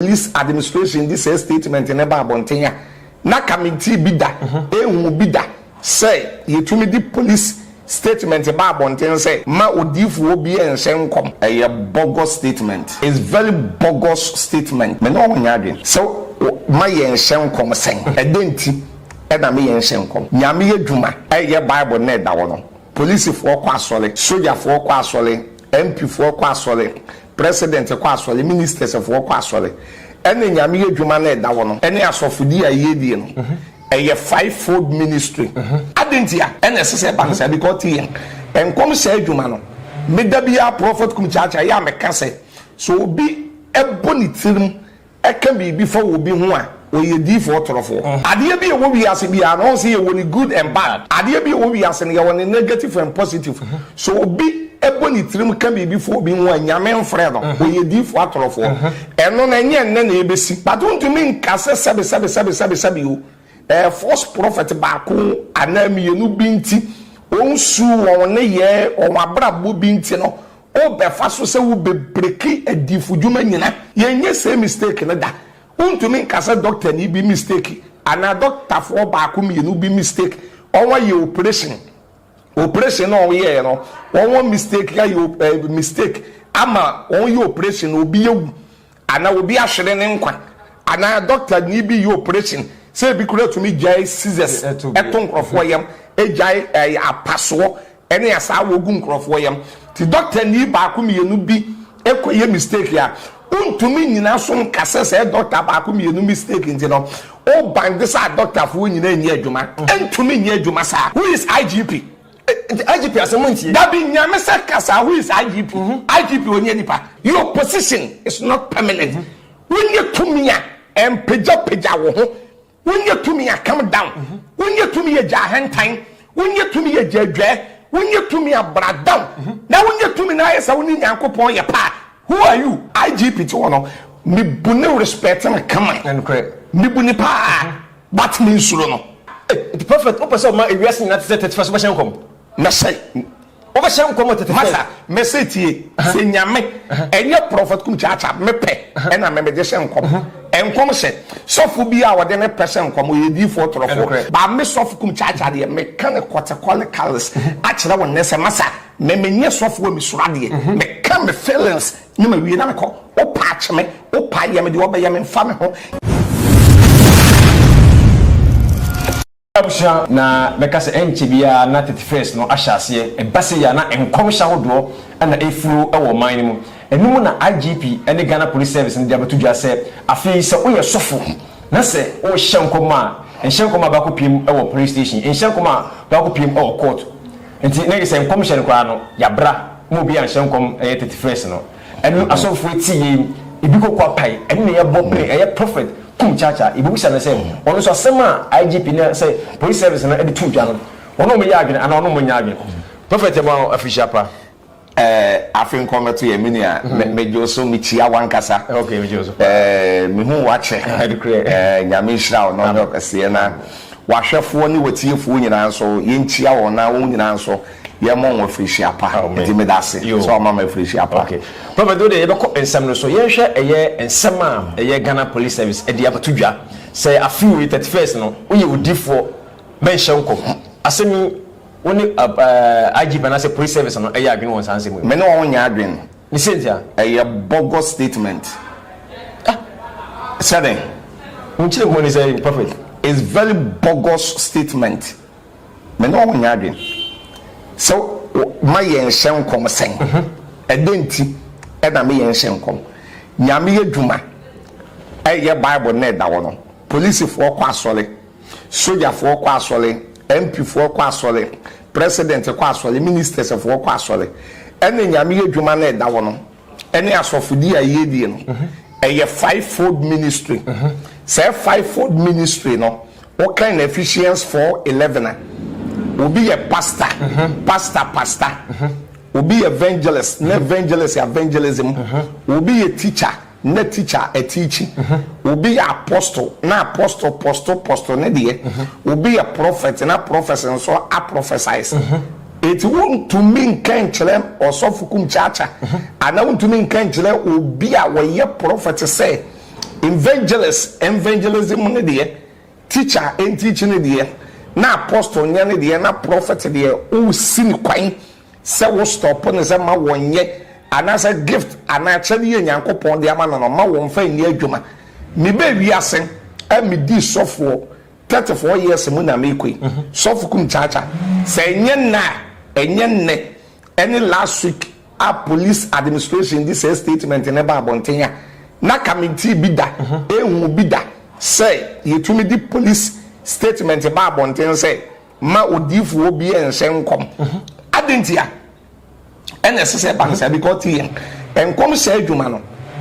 Police Administration de saa statement no ba abɔnten a, na kamentii bi da, enhuu bi da sɛ yetumi de police statement ba abɔnten sɛ mma odiyifo obiara nhyɛ nkɔm. Ɛyɛ bogus statement. It's very bogus statement. Me ne wɔn nyɛ adwene. Sɛ wo, ma yɛnhyɛ nkɔm sɛn? Ɛdɛn nti na me yɛnhyɛ nkɔm? Nyame adwuma, ɛyɛ Bible no na ɛda hɔ no. Policefoɔ kɔ asɔre, sogyafoɔ kɔ asɔre, MP foɔ kɔ asɔre, President kɔ asɔre, Ministers foɔ kɔ asɔre, ɛna Nyame yɛ dwuma no ɛda hɔ no, ɛne asɔfodie a yɛdie no, ɛyɛ five fold ministry. Adɛn ntia ɛna ɛsɛ sɛ ɛba no saa, because te yɛn nkɔm hyɛ adwuma no, me da biara Prophet Kum Kyaakyaa yɛ a meka sɛ, sɛ obi bɔ ne tirim ɛka biribi fa obi ho a, ɔyɛ diifoɔ torofoɔ. Adeɛ bi a ɛwɔ wiase biara no, ɔhu sɛ yɛwɔ ne good and bad. Adeɛ bi a ɛwɔ wiase no, yɛwɔ ne negative and positive. Sɛ obi bɔ ne tirim ka biribi fa obi ho a, Nyame mfrɛ no, ɔyɛ diifoɔ atorofoɔ. Ɛno no, ɛnyɛ nnɛ na ɛbɛsi. But wontumi nka sɛ sɛbesɛbesɛbesɛbesɛbe o, ɛɛ, false prophet baako anaa mmienu bi nti, wɔn su, wɔn nneyɛɛ, wɔn abrabɔ bi nti no, Wo bɛ fa so sɛ wo bɛ breki adifo dwuma nyina. Yɛn nyɛ sɛɛ mistake no da. Wo ntumi nka sɛ doctor ni bi mistake anaa doctor foɔ baako mmienu bi mistake wɔn ayɛ operation. Operation no a wɔn yɛɛ no wɔn mistake ayɛ eh mistake ama wɔn yɛ operation no obi awu. Anaa obi ahwere ne nkwa. Anaa dɔktani bi yɛ oprehyɛn sɛ ebi koraa tumi gyae scissors to nkurɔfoɔ yam, gyae ɛɛ apasoɔ ne asaawa gu nkurɔfoɔ yam. Nti dɔktani baako mmienu bi kɔyɛ mistake a, wontumi nnyina so nka sɛ sɛ dɔkta baako mmienu mistake nti no, wobande sɛ adɔktafoɔ nyinaa nni adwuma. Ɛntumi nyɛ adwuma saa. Who is IGP? IGP asɛm mo ntie. Dabi nyame sɛ kasa who is IGP IGP ɔnyɛ nipa. Your position is not permanent wonyɛ tumi a ɛmpagya pagya wo ho wonyɛ tumi a come down wonyɛ tumi yɛ gya ahantan wonyɛ tumi yɛ gya adwaɛ wonyɛ tumi a bra down na wonyɛ tumi na ayɛ sɛ wo ne Nyankopɔn yɛ paa who are you IGP ti wɔ no mebu ne respect no kama mebu ne paa. But me nsuro no. Nti prophet wopɛ sɛ ɔma ewiase nyinaa te sɛ tete fa so bɛhyɛ nkɔm? Mɛhyɛ. Wobɛhyɛ nkɔm wɔ tete fa so? Masa, mese tie, sɛ Nyame, ɛnyɛ prophet Kum Kyaakyaa, me pɛ ɛna me mede hyɛ nkɔm. Nkɔm hyɛ. Sɔfo biaa ɔde ne pɛ hyɛ nkɔm, ɔyɛ diifoɔ torofoɔ. But me Sɔfo Kum Kyaakyaa deɛ, me ka no categorically akyerɛ wo nnɛ sɛ, Masa, me menyɛ sɔfo a mesuro adeɛ. Me ka me feelings. Ne ma wie na mekɔ. Wo paa kye me, wo paa yɛ me deɛ ɔbɛyɛ me mfa me ho. Abusua na bɛka sɛ ɛnkyɛ biara na thirty first no ahyɛ aseɛ. Ɛba sei a na nkɔmhyɛ ahodoɔ na ɛrefuro wɔ ɔman no mu. Ɛno mu na IGP ne Ghana Police Service no de abɛto dwa sɛ afei sɛ woyɛ sɔfo na sɛ worehyɛ nkɔm a, nhyɛ nkɔm a bɛakɔpiem wɔ police station, nhyɛ nkɔm a bɛakɔpiem wɔ court. Nti na yɛsɛ nkɔmhyɛ no koraa no yabra ma obi anhyɛ nkɔm ɛyɛ thirty first no ɛno asɔfoɔ ti yei ebi koko apae ɛno na yɛbɔ pene ɛyɛ prophet kum kyakya yɛbɛbisa no sɛ ɔno nso asɛm a IGP na sɛ police service no ɛde to dwa no ɔne ɔmo yɛ adwene anaa ɔne ɔmo nyɛ adwene prophet yɛma wo afirihyia pa. Eh afe nkɔmɛto yɛ me nua me gye wo so me kyia wo ankasa eh me hu wakyɛ eh nyame nhyira wo na ɔnyɛ ɔkɛseɛ na wahwɛfoɔ ne watiefoɔ nyinaa nso yɛn kyia wɔn na wɔn nyinaa nso yɛn mɔ wɔn afirihyia pa nti me da se sɛ ɔma ma afirihyia pa. Prophet wode yɛbɛkɔ nsɛm no so yɛn hwɛ ɛyɛ nsɛm a ɛyɛ Ghana police service ɛde abɛto dwa sɛ afe wei 31st no woyɛ odifoɔ bɛnhyɛ nkɔm asɛm yi Wo ne IGP anaasɛ Police Service no yɛ adwene wɔ nsaa nsɛm yi ho? Me ne wɔn nyɛ adwene. Ne sɛntia? Ɛyɛ bogus statement. Ah! Sɛdɛn? Wo nkyerɛ mu ne sɛ Prophet? It's very bogus statement. Me ne wɔn nyɛ adwene. Sɛ ma yɛn nhyɛ nkɔm sɛn? Ɛdɛn nti na me yɛn nhyɛ nkɔm? Nyame yɛ dwuma. Ɛyɛ Bible na ɛda hɔ no. Polisifoɔ kɔ asɔre. Sogyafoɔ kɔ asɔre, MPfoɔ kɔ asɔre, President kɔ asɔre, Ministers foɔ kɔ asɔre. Ɛna Nyame yɛ dwuma no ɛda hɔ no, ɛne asɔfodie a yɛdie no, ɛyɛ five fold ministry. Sɛɛ five fold ministry no, wo kan no Ephesians four eleven a, obi yɛ Pastor, Pastor Pastor, obi yɛ Evangelist, na Evangelist yɛ Evangelism, obi yɛ Teacher, na teacher ɛteakyi, obi yɛ apostle na apostle postle postle ne deɛ, obi yɛ prophet na prophecy nso aprophesies. Enti wontumi nka nkyerɛ ɔsɔfo Kumkyaakya anaa wontumi nka nkyerɛ obi a ɔyɛ prophet sɛ evangelist evangelism ne deɛ, teacher ɛnteakyi ne deɛ, na apostle nyɛ ne deɛ na prophet deɛ ɔresi ne kwan. sɛ wo stop no sɛ ma wɔnyɛ anaasɛ gift anaa akyɛdeɛ Nyankopɔn de ama no no ma wɔmfa nni adwuma me bɛ wiase a me di sɔfoɔ 34 years mu na me kɔ yi mhm. sɔfo kum kyakya sɛ ɛnyɛ nna a ɛnyɛ nnɛ ɛne last week a police administration di sɛ statement ne ba abɔnten a na kamenti bi da mhm. ehu bi da sɛ yɛtumi di police statement ba abɔnten sɛ mma odiyifoɔ biara nhyɛ nkɔm. Adɛn ntia? Ɛna ɛsɛ sɛ ɛba no saa because ti yɛn nkɔmhyɛ adwuma no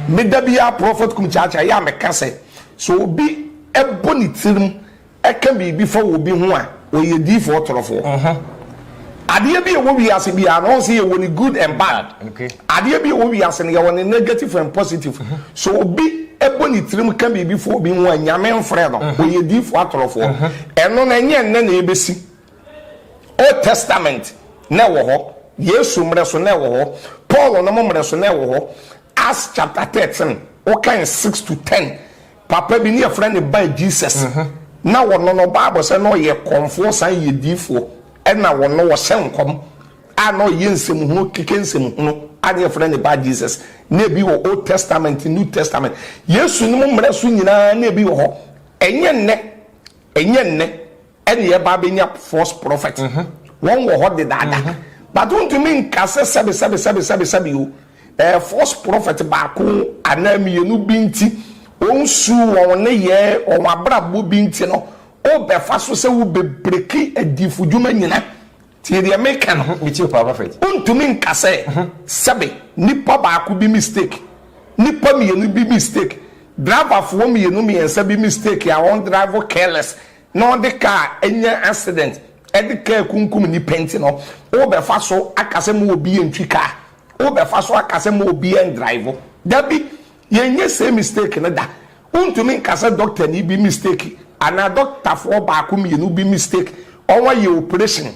meda biara prɔfɛt kum kyaakyaa yɛ a meka sɛ sɛ obi bɔ ne tirim ka biribi fa wɔ obi ho a ɔyɛ diyifoɔ torofoɔ. Adeɛ bi a ɛwɔ wiase biara no ɔhu sɛ yɛwɔ ne good and bad. Okay. Adeɛ bi wɔ wiase no yɛwɔ ne negative and positive. So obi ɛbɔ ne tirim ka biribi fo obi ho a nyame mfrɛ no. Ɔyɛ diifoɔ atorofoɔ. Ɛno no ɛnyɛ nnɛ na ɛbɛsi. Old testament na ɛwɔ hɔ. Yesu mmerɛ so na ɛwɔ hɔ. Paul nom mmerɛ so na ɛwɔ hɔ. Acts chapter thirteen wokan six to ten papa bi ne yɛfrɛ no Bar Jesus na ɔno no bible sɛ na ɔyɛ kɔmfoɔ san yɛ diifoɔ ɛna ɔno ɔhyɛ nkɔm a na ɔyɛ nsɛmhunu keke nsɛmhunu a na yɛfrɛ ne ba Jesus na ebi wɔ Old Testament, New Testament, Yesu nom mmara so nyinaa na ebi wɔ hɔ. Ɛnyɛ nnɛ, ɛnyɛ nnɛ ɛna yɛba abɛnya false prophet. Wɔn wɔ hɔ dedaada. But wontumi nka sɛ sɛbe sɛbe sɛbe sɛbe sɛbe o, ɛɛ false prophet baako anaa mmienu bi nti, wɔn su, wɔn nneyɛɛ, wɔn abrabɔ bi nti no, wobɛfa so sɛ wobɛbreki adiyifodwuma nyina. Tie deɛ meka no. Me tie paa prophet. Wontumi nka sɛ sɛbe nipa baako bi mistake, nipa mmienu bi mistake, driver foɔ mmienu mmiɛnsa bi mistake a wɔn drive careless na ɔde car anya accident ɛde car kunkum nipa nti no wo bɛ fa so aka sɛ mo obi yɛ ntwi car, wo bɛ fa so aka sɛ mo obi yɛ ndrive. Dabi, Yɛnyɛ saa mistake no da. Wontumi nka sɛ dɔktani bi mistake anaa dɔktafoɔ baako mmienu bi mistake wɔayɛ operation.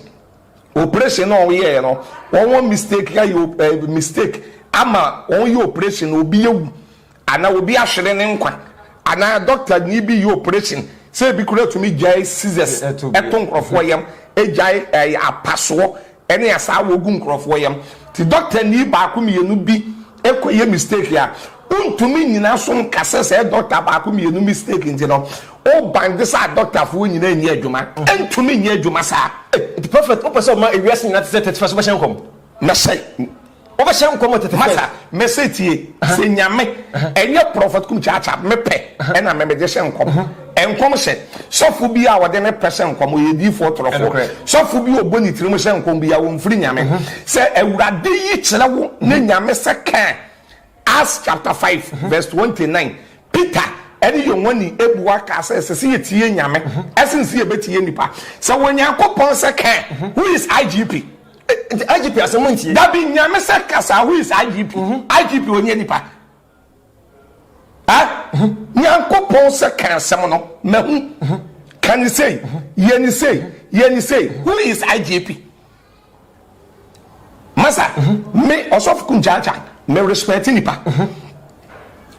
Operation no a wɔyɛeɛ no, wɔn mistake ayɛ eh, mistake ama wɔyɛ operation na obi awu anaa obi ahwere ne nkwa anaa dɔktani bi yɛ operation sɛ ebi kura tumi gyae scissors ɛto nkurɔfoɔ yam, gyae eh, apasoɔ Ɛne asaa wɔgu nkorɔfoɔ yam te doctor nii baako mmienu bi kɔ yɛ mistake a wontumi nyina so nka sɛ sɛɛ doctor baako mmienu mistake nti no wo ban de saa doctor foɔ nyina nnyɛ adwuma ɛntumi nnyɛ adwuma saa. Nti prophet wopɛ sɛ ɔma ewiase nyinaa te sɛ tɛtefɛso bɛhyɛ nkɔm? Na sɛ Wobɛhyɛ nkɔm wɔ tete Masa mɛsɛ tie sɛ nyame ɛnyɛ prɔfɛt kum kyaakya me pɛ ɛna me mede hyɛ nkɔm nkɔm hyɛ sɔfo bi a ɔde ne pɛ hyɛ nkɔm ɔyɛ diifoɔ torɔfoɔ sɔfo bi a ɔbɔ ne tiri mu hyɛ nkɔm biara ɔmfiri nyame sɛ awurade yi kyerɛ wo ne nyame sɛ kɛɛ Acts chapter five verse twenty nine, Peter ne Yohane bua kaa sɛ, Ɛsɛ sɛ yɛtie Nyame sen sɛ yɛbɛtie nnipa. Sɛ Onyankopɔn sɛ ka a, who is IGP? IGP asɛm montie. Dabi, Nyame sɛ kasa a, who is IGP? IGP ɔnyɛ nnipa. Ah, Nyankopɔn sɛ ka asɛm no, mahu. Ka ne sei, yɛ ne sei, yɛ ne sei, who is IGP? Masa, me Ɔsɔfo Kunjaja, me respect nipa.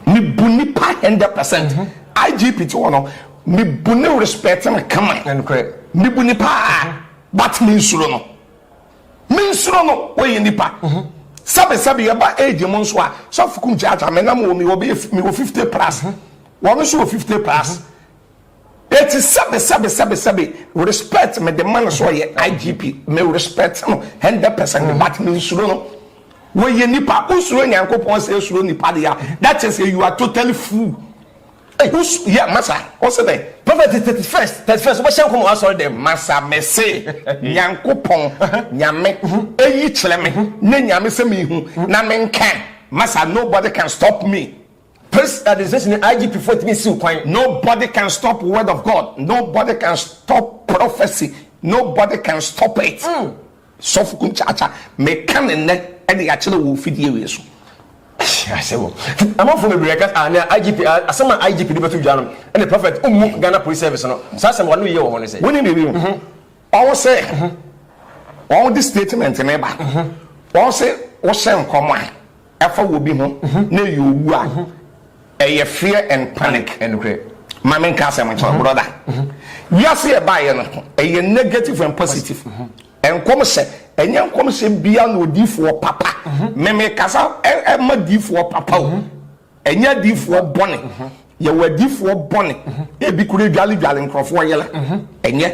Me bu nipa hundred percent. IGP ti hɔ no, me bu no respect no kama. Me bu no paa, but me nsuro no. Me nsuro no, ɔyɛ nipa. Sɛbe sɛbe yɛ ba age mu nso a, Sɔfo Kunjaja, me nam wɔ mi wɔ bɛyɛ, me wɔ fifty plus. Wɔn nso wɔ fifty plus. Eti sɛbe sɛbe sɛbe sɛbe respect me de ma no sɛ ɔyɛ IGP me respect no hundred percent but me nsuro no wɔyɛ nipa wosuro Nyankopɔn sɛ esuro nipa de a that is a you are totally fool who's yeah masa what's the name prophet thirty first thirty first wobɛhyɛ nkɔmɔ asɔre dɛm masa mese nyankopɔn nyame eyi kyerɛ me ne nyame sɛ mehu na menka masa nobody can stop me Police administration ne IGP foɔ ntumi nsiw kwan. No body can stop word of God, no body can stop prophecy, no body can stop it. Mm. Sɔfo kum kyaakya, me ka ne nnɛ ɛde akyerɛ wɔ ofidie wei so. Asɛm. Amanfo bebree ka ah na IGP ah, asɛm a IGP de bɛto dwa no ɛne prophet mmu Ghana Police Service no. Saa asɛm wɔn yɛ wɔ ho ne sɛ. Wɔn ni biribi o. Mhm. Wɔn sɛ mhm. wɔn de statement ne ba. Mhm. Wɔn sɛ wɔhyɛ nkɔm a. ɛfa wɔ bi ho na ɛyɛ owu a, ɛyɛ fear and panic. Ma menka asɛm nkyerɛ wo brɔda. Wiase a ɛbaeɛ no, ɛyɛ negative and positive. Nkɔmhyɛ, ɛnyɛ nkɔmhyɛ biara na odiyifoɔ papa, me mekasa ma adiyifoɔ papa o, ɛnyɛ adiyifoɔ bɔne. Yɛwɔ adiyifoɔ bɔne, ebi koraa dwaledwale nkurɔfoɔ yere, ɛnyɛ.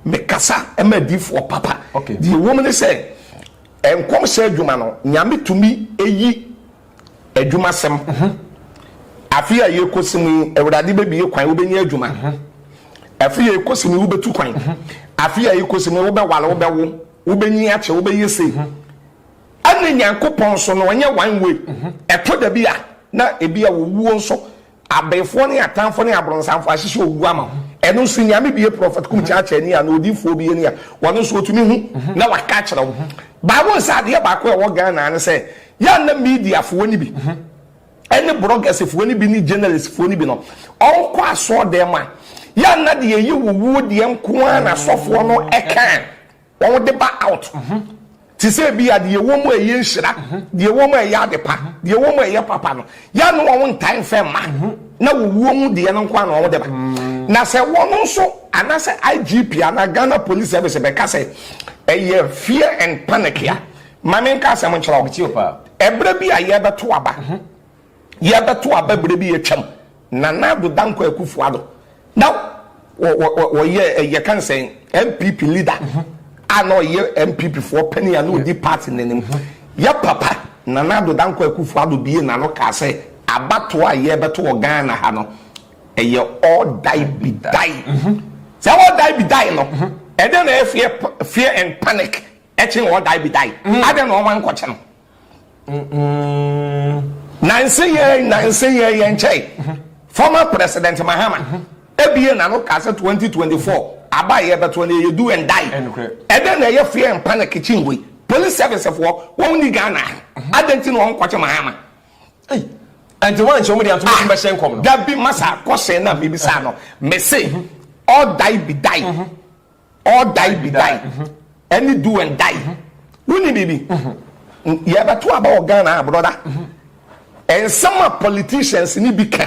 Mekasa ma adiyifoɔ papa. Deɛ ɛwom ne sɛ, Nkɔmhyɛ adwuma no Nyame tumi yi adwuma sɛm Afe a yɛkɔsi mu yi Awurade bɛbie kwan wobɛnya adwuma Afe a yɛkɔsi mu yi wobɛtu kwan Afe a yɛkɔsi mu yi wobɛware wobɛwo wobɛnyin akyɛ wobɛyɛ sei Ɛne Nyankopɔn so no ɛnyɛ one way Ɛtɔ da bi a na ebi a owuo nso Abenfoɔ ne atanfoɔ ne abronsanfoɔ ahyehyɛ owuo ama wo. Ɛno nso Nyame bue prɔfɛt kum kyakyani anaa odiyifoɔ bi ani a, ɔno nso ɔtumi hu na waka akyerɛ wo. But wohu sɛ adeɛ baako a ɛwɔ Ghana ne sɛ, yɛ a na media foɔ no bi ne brɔgɛse foɔ no bi ne gyɛnɛlist foɔ no bi no, ɔnkɔ asɔɔdɛm a, yɛ a na deɛ ɛyɛ owuo deɛ nko ara na asɔfoɔ no ka. wɔde ba out ho te sɛ bi a deɛ ɛwɔ mu a ɛyɛ nhyira deɛ ɛwɔ mu a ɛyɛ ade pa deɛ ɛwɔ mu a ɛyɛ papa no yɛ no wɔn ntae mfɛ mma na wɔwuo mu deɛ no nko a na wɔde ba na sɛ wɔn nso anasɛ IGP anaa Ghana Police Service bɛka sɛ ɛyɛ fear and panic a ma menka asɛm nkyerɛ wo ɛberɛ bi a yɛbɛto aba Yɛbɛto aba berɛ bi atwam. Nana Addo Dankwa Akufo Addo na ɔyɛ yɛka sɛ NPP leader a na ɔyɛ NPP foɔ panin a na ɔdi party no anim. Yɛ papa Nana Addo Dankwa Akufo Addo bie n'ano kaa sɛ abatoɔ a yɛbɛto wɔ Ghana ha no ɛyɛ ɔdae bi dae. Sɛ ɔdae bi dae no ɛdɛn na ɛyɛ fear and panic ɛkyen ɔdae bi dae? Adɛn na wɔn ankɔkye no? Nanse yɛn nanse yɛn yɛn nkyɛe. Former President Mahama abue n'ano kaa sɛ 2024 aba a yɛbɛto no ɛyɛ do and die. Ɛdɛn na ɛyɛ fear and panic kyi ngo yi? Police service foɔ wɔn nni Ghana ha. Adɛn nti na wɔn nkɔkye Mahama? Ei, ɛnti wɔn ankyɛ wɔn de anto wɔn bɛhyɛ nkɔm no? Dabi, masa question no a mebisa no. Mese, ɔdae bi dae. All die be die ɛne do and die woni biribi yɛbɛto aba wɔ Ghana a brɔda nsɛm a politicians ne bi ka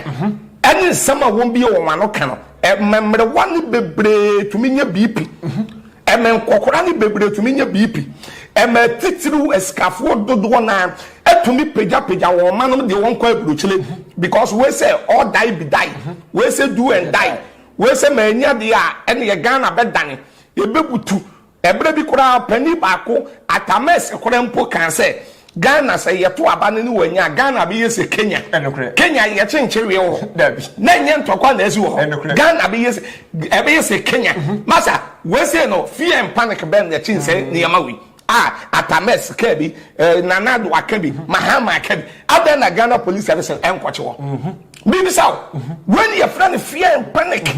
ɛne nsɛm a wɔn bie wɔn ano ka no mmɛmmerewa ne bebree tumi nyɛ biipi ɛmɛ nkɔkora ne bebree tumi nyɛ biipi ɛmɛ titiriw asikafoɔ dodoɔ naa ɛtumi pagyapagya wɔn ma nom deɛ wɔn kɔ aburokyire because wei sɛ all die be die wei sɛ do and die Wei sɛ mannya deɛ a, ɛnneɛ Ghana bɛdane. Yɛbɛbutu. Ɛberɛ bi koraa, panin baako, Atamɛ Sekorɛ mpo kaa sɛ, Ghana, sɛ yɛto aba no ne wannya a, Ghana bɛyɛ sɛ Kenya. Kenya yɛ kyenkyereɛ wɔ hɔ. Na ɛnyɛ ntɔkwa na asi wɔ hɔ. Ghana bɛyɛ sɛ ɛbɛyɛ sɛ Kenya. Masa, wei sei no, fear and panic bɛn na ɛkyen sɛ nneɛma wei? Ah Atames ka bi, eh, Nana Addo aka bi, Mahama aka bi. Adɛn na Ghana Police Services ɛnkɔkye wɔ? Mebisa wo. Wei ne yɛfrɛ no fear and panic.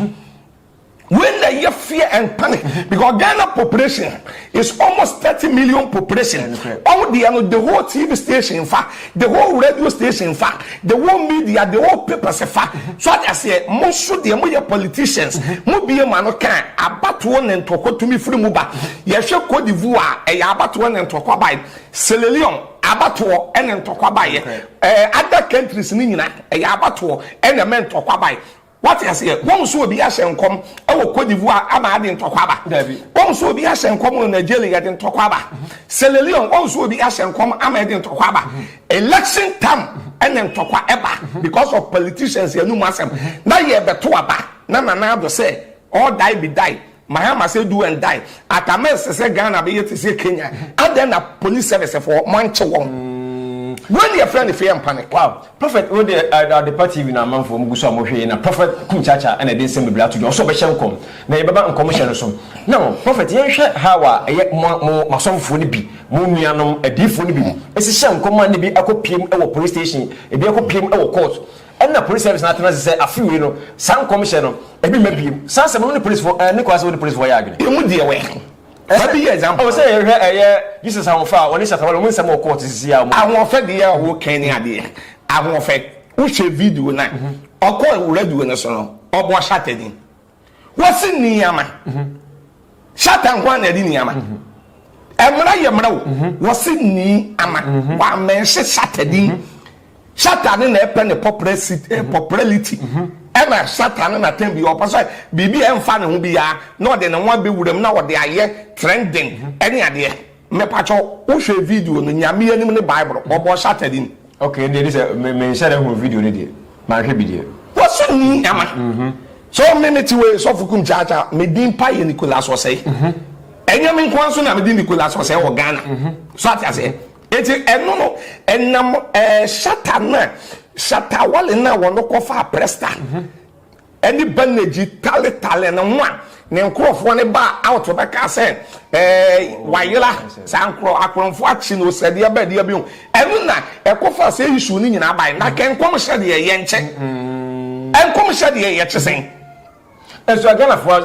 Wei na ɛyɛ fear and panic because Ghana population is almost thirty million population. Ɔmo deɛ no the whole TV station fa. the whole radio station fa the whole media the whole papers fa so ate aseɛ mo nso deɛ mo yɛ politicians mo bie ma no kan abatoɔ na ntɔkwa tumi firi mu ba yɛhwɛ Cote d'Ivoire ɛyɛ abatoɔ na ntɔkwa bae Sierra Leone abatoɔ ɛna ntɔkwa baeɛ ɛɛ other countries ne nyina ɛyɛ abatoɔ ɛna ɛmɛ ntɔkwa bae Wate aseɛ? Wohu sɛ obi ahyɛ nkɔm wɔ Cote d'Ivoire ama ade ntɔkwa aba. Dabi. Wohu sɛ obi ahyɛ nkɔm wɔ Nigeria yɛde ntɔkwa aba. Sierra Leone wohu sɛ obi ahyɛ nkɔm ama yɛde ntɔkwa aba. Election tam ɛna ntɔkwa ɛba because of politicians anum asɛm. Na yɛbɛto aba na Nana Addo sɛ all die be die. Mahama say do and die atama ɛsɛ sɛ Ghana bɛyɛ te sɛ Kenya adɛn na police service foɔ mo ankye wɔn wei ne yɛfrɛ no fear and panic. Wow prophet wo deɛ Adepa TV na amanfoɔ ɔmo gu so a ɔmo hwɛ yei na prophet Kunchacha ɛna ɛde nsɛm bebree ato dwa ɔsɛ ɔbɛhyɛ nkɔm na yɛbɛba nkɔmhyɛ no so now prophet yɛn hwɛ how a ɛyɛ mo mo asɔfofoɔ no bi mo nuanom adiifoɔ no bi ɛsi hyɛ nkɔm a na ebi akɔ piem ɛwɔ police station ebi akɔ piem ɛwɔ court. Ɛna Police Service no atena ase sɛ afe wei no saa nkɔmhyɛ no ebi mma bio. Saa asɛm no wo ne polisifo ɛɛ ne kwan sɛ wo ne polisifo yɛ adwene. Emu deɛ wɛ. Fa bi yɛ example. Ɛwɔ sɛ yɛhwɛ ɛyɛ Justice Ahoɔfɛ a ɔne Shatta Wale wɔn nsɛm wɔ court sisi a wɔn. Ahoɔfɛ deɛ a wokan ne adeɛ. Ahoɔfɛ, wohwɛ video no a, ɔkɔɔ radio no so no, ɔbɔ Shatta din. Wɔsi nneɛma. Satan nko ara na ɛde nneɛma. Mmara yɛ mmara o. Wɔsi nneɛma. Wɔamɛnhye satan din. Satan ne na ɛpɛ ne popularity. Ɛna satan ne na tɛn bi ɔpɛ sɛ biribi a ɛnfa ne ho biara na ɔde ne ho abɛwura mu na ɔde ayɛ trending ɛne adeɛ. Mepakyɛw wo hwɛ video no Nyame anim ne Bible bɔbɔ Saturday mu. Okay ɛndeɛ ɛne sɛ me me nhyɛ da hunu video no deɛ manhwɛ bi deɛ. Wɔso nni nyama so me mete wei sɔfo kum kyaakyaa me din pa yɛ Nicholas Osei ɛnyɛ me nkoa nso na me din Nicholas Osei wɔ Ghana so ate aseɛ eti ɛno no ɛnam ɛɛ shatter no a shatter wale no a wɔno kɔfaa presta. ɛde banagyi taletale ne ho a ne nkurɔfoɔ no baa out bɛkaa sɛ ɛɛ wayera saa nkorɔ akorɔmfoɔ akye no osɛdeɛ bɛdeɛ bi ho ɛno na ɛkɔfa sɛ issue no nyinaa bae na kɛ nkɔmhyɛ deɛ yɛ nkyɛ nkɔmhyɛ deɛ yɛkye sɛn nso aghanafoɔ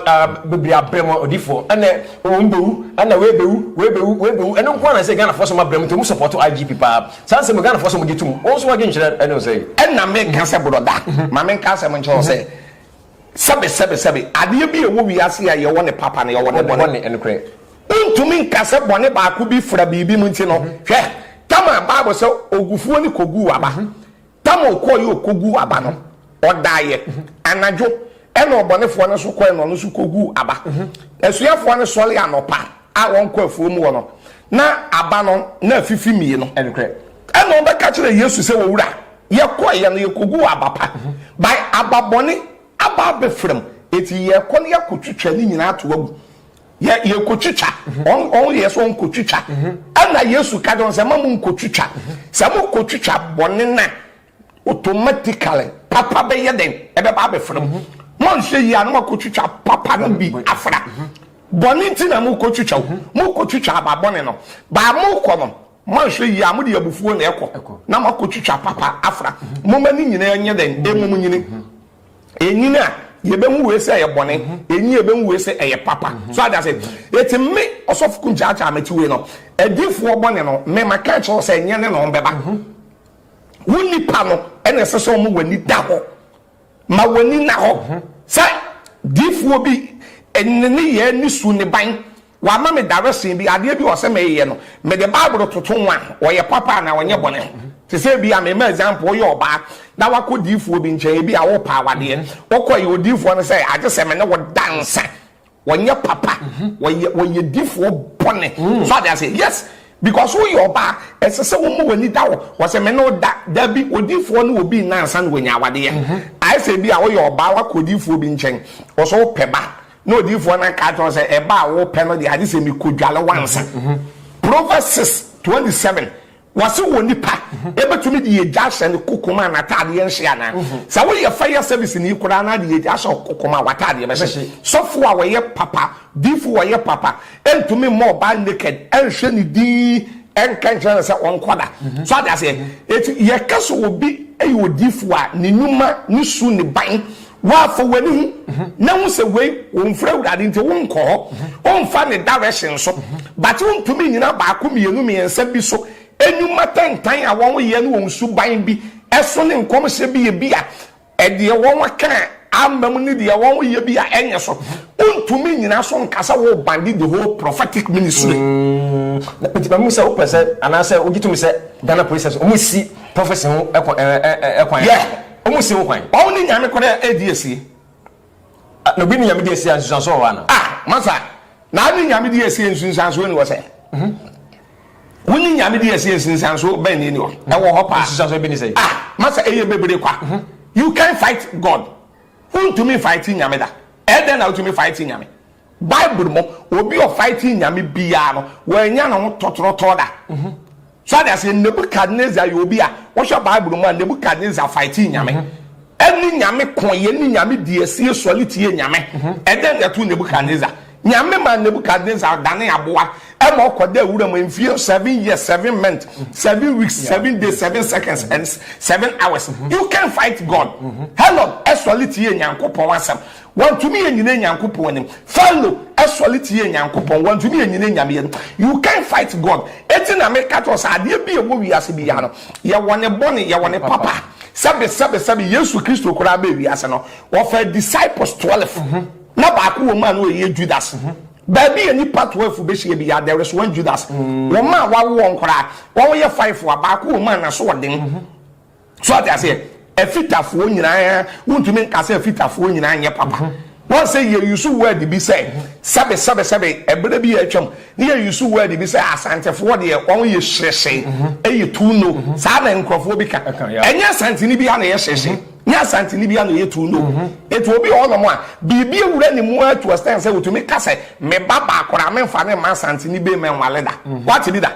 bebree abrɛ mu odifoɔ ɛnɛ wɔn bɛwu ɛnɛ wei bɛwu wei bɛwu wei bɛwu ɛno nko ara na sɛ ghanafoɔ sɛ wɔn abrɛ mu nti wɔn sɔpɔtɔ igp paa Saa nsɛm yi Ghanafoɔ sɛ wɔgye tom. Wo nso w'adwenkyerɛ ne wo sɛn? Ɛna meka sɛ Borɔda, ma menka asɛm nkyerɛ wo sɛ, sɛbe, sɛbe, sɛbe, adeɛ bi a ɛwɔ wiase yi a yɛwɔ ne papa na yɛwɔ ne bɔne. Bɔne, ɛnokorɛ. Wontumi nka sɛ bɔne baako bi fra biribi mu nti no, hwɛ, Tamar, Bible sɛ, Ogufuo no kɔguu aba. Tamar kɔeɛ ɔkɔguu aba no, ɔdaeɛ, anadwo, ɛna ɔbɔnefoɔ no nso kɔeɛ na ɔno nso kɔguu aba. Asuafoɔ no sɔre anɔpa a wɔnkɔ afuo mu hɔ no, na aba no na afifi mmienu. Nokorɛ. Ɛna wɔbɛka akyerɛ Yesu sɛ, Owura, yɛkɔeɛ no, yɛkɔguu aba pa, bae, aba bɔne aba abɛfra mu, enti yɛrekɔ na yɛakɔtwitwa ne nyinaa ato agu. Yɛ yɛkɔtwitwa wɔn wɔn yɛ sɛ wɔnkɔtwitwa ɛna Yesu ka dɔn sɛ ma mo nkɔtwitwa sɛ mo kɔtwitwa bɔne na automatically papa bɛyɛ dɛn ɛbɛba abɛfra mu monhwɛ yie a na moakɔtwitwa papa no bi afra bɔne nti na mokɔtwitwa o mokɔtwitwa aba bɔne no baa mokɔ no moanhwɛ yie a mode abufuo na ɛkɔ na moakɔtwitwa papa afra moma ne nyinaa nyɛ dɛn ɛmom nyini enyin a yɛbɛhu wei sɛ ɛyɛ bɔne mhm. enyin a yɛbɛhu wei sɛ ɛyɛ papa mhm. so ada sɛ eti me ɔsɔfo kun kyaakyaa mɛti wei no adiifoɔ bɔne no mɛma ka kyerɛ sɛ nyɛ ne na wɔn bɛba mhm. wo nipa no ɛna ɛsɛ sɛ wɔn w'ani da hɔ ma w'ani na hɔ sɛ diifoɔ bi ɛne ne yɛ ne su ne ban. Wama me daresee bi, adeɛ bi wɔ sɛ meyɛ no, mede Bible toto ho a, ɔyɛ papa anaa ɔnyɛ bɔne? Te sɛ ebia, mema example, woyɛ ɔbaa na wakɔ diifoɔ bi nkyɛn, ebia wopɛ awadeɛ, wokɔeɛ, odiifoɔ no sɛ, agye sɛ me ne wo da nsa, ɔnyɛ papa, ɔyɛ, ɔyɛ difoɔ bɔne. So ate aseɛ? Yes, because woyɛ ɔbaa, ɛsɛ sɛ woma w'ani da hɔ, wɔsɛ me ne wo da, dabi, odiifoɔ ne obi nna ansa na wanya awadeɛ. Ayɛ sɛ ebia woyɛ ɔbaa, wakɔ odiifoɔ bi nkyɛn, ɔsɛ wopɛ ba, Na odiyifoɔ no kaa kyerɛ wo sɛ, Ɛba a wopɛ no deɛ, agye sɛ mekɔdwale wo ansa. Proverbs six twenty seven, Wɔse onipa bɛtumi de agya ahyɛ ne kokom a n'ataadeɛ nhye anaa? Sɛ woyɛ fire service ni koraa na de agya ahyɛ wo kokom a, w'ataadeɛ bɛhye. Sɔfo a ɔyɛ papa, diifo a ɔyɛ papa ntumi mma ɔbaa naked nhwɛ ne din nka nkyerɛ no sɛ ɔnkɔda. So ate aseɛ? Enti yɛka sɛ obi yɛ odiifo a, ne nnwuma, ne su, ne ban, Wɔafa w'ani ho na hu sɛ wei womfiri Awurade nti wonkɔ hɔ, womfa ne direction so, but wontumi nnyina baako mmienu mmiɛnsa bi so, nnwuma tantan a wɔyɛ ne wɔn suban bi so ne nkɔmhyɛ bi a bi a deɛ wɔka amma mu ne deɛ wɔyɛ bi a ɛnyɛ so, wontumi nnyina so nka sɛ worebande the whole prophetic ministry. Na meti mahu sɛ wopɛ sɛ anaasɛ wogye tom sɛ Ghana Police Service wɔsi prophecy ho kwan. Yeah. Ɔmo se wo hwan? Ɔmo ne nyame koro a edi asie. Na obi ne nyame di asie a, nsunsuanso wɔ hɔ ana? Ah! Masa, na ne nyame di asie nsunsuanso nni hɔ sɛ? Wo ne nyame di asie nsunsuanso bɛn na enni hɔ? Ɛwɔ hɔ paa. Nsunsuanso bi ne sɛn? Ah! Masa, eye bebree kwa. You can't fight God. Wuntumi nfaete nyame da. Ɛyɛ dɛn na wutumi faete nyame? Bible mu, obi a ɔfae ti nyame biara no, wannya ne ho tɔtorɔtɔɔ da. So ade aseɛ, Nebukadnesar yɛ obi a, wohwɛ Bible mu a, Nebukadnesar fae ti nyame. Ɛne nyame ko yɛ, ne nyame di asie sɔre tie nyame. Ɛdɛn na ɛtoo Nebukadnesar? Nyame maa Nebukadnesar danee aboa ma ɔkɔdaa wura mu mfie seven years, seven months, seven weeks, seven days, seven seconds, and seven hours. You can fight God. Hello, ɛsɔre tie Nyankopɔn asɛm. Wɔntumi anyina Nyankopɔn anim. Pharaoh sɔre tiee Nyankopɔn. Wɔntumi anyina Nyame anim. You can't fight God. Enti na meka kyerɛ wo sɛ adeɛ bi a ɛwɔ wiase biara no, yɛwɔ ne bɔne, yɛwɔ ne papa. Sɛbesɛbesɛbe, Yesu Kristo koraa baa wiase no, ɔfaa disciples twelve. Na baako wɔ mu a na ɔyɛ Judas. Baabi a nnipa twelve bɛhyia biara, there is one Judas. Wɔn a wɔawo wɔn koraa, wɔyɛ five a, baako wɔ mu a n'aso ɔden. So ate aseɛ? Afitafoɔ nyinaa, wontumi nka sɛ afitafoɔ nyinaa nyɛ papa. Mhm. Wɔn sɛ yɛ use word bi sɛ mhm. sɛbe sɛbe sɛbe ɛberɛ bi yɛ atwam ne yɛ use word bi sɛ asantefoɔ deɛ wɔn yɛ hyerɛhyɛ ɛyɛ mhm. too no saa na nkurɔfoɔ bi ka ɛnyɛ asanteni bi a na yɛ hyerɛhyɛ nyɛ asanteni bi a na yɛ too no etu obi wɔ hɔnom a biribi ewura ne mu atu ɔsɛn sɛ otumi ka sɛ me ba baako a memfa ne mma asanteni bɛyi mɛ nwale da wate bi da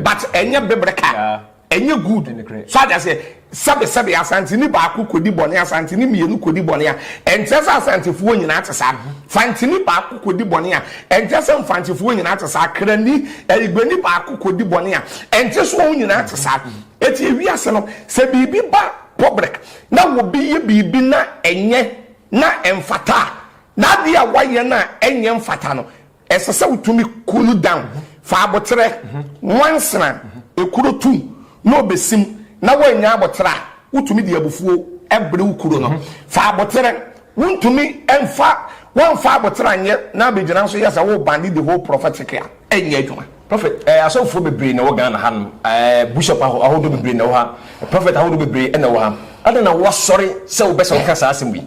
but ɛnyɛ bebrɛ ka. Ɛnyɛ good. So ate aseɛ? Sɛbesɛbe Asanteni baako kɔdi bɔne, Asanteni mmienu kɔdi bɔne a, ɛnkyerɛ sɛ Asantefoɔ nyinaa te saa. Fanteni baako kɔdi bɔne a, ɛnkyerɛ sɛ Mfantefoɔ nyinaa te saa. Krani, Igbeni baako kɔdi bɔne a, ɛnkyerɛ sɛ wɔn nyinaa te saa. Enti ewiase no, sɛ biribi ba public na obi yɛ biribi na ɛnyɛ na ɛmfata a, na adeɛ a wayɛ no a ɛnyɛ mfata no, Ɛsɛ sɛ wotumi ku no dan fa aboterɛ, nwansena, ekuro tu, na obesim, na woannya aboterɛ a, wotumi de abufuo bere wo kuro no fa aboterɛ. Wontumi mfa woamfa aboterɛ anyɛ na abɛgyina nso yɛ sɛ worebande the whole prophetic a, ɛnyɛ adwuma. Prophet, eh, asɔfoɔ bebree na ɛwɔ Ghana ha nom, eh, Bishop aho, ahodoɔ bebree na ɛwɔ ha, Prophet ahodoɔ bebree na ɛwɔ ha, adɛn na woasɔre sɛ wobɛsɛ woka saa asɛm wei?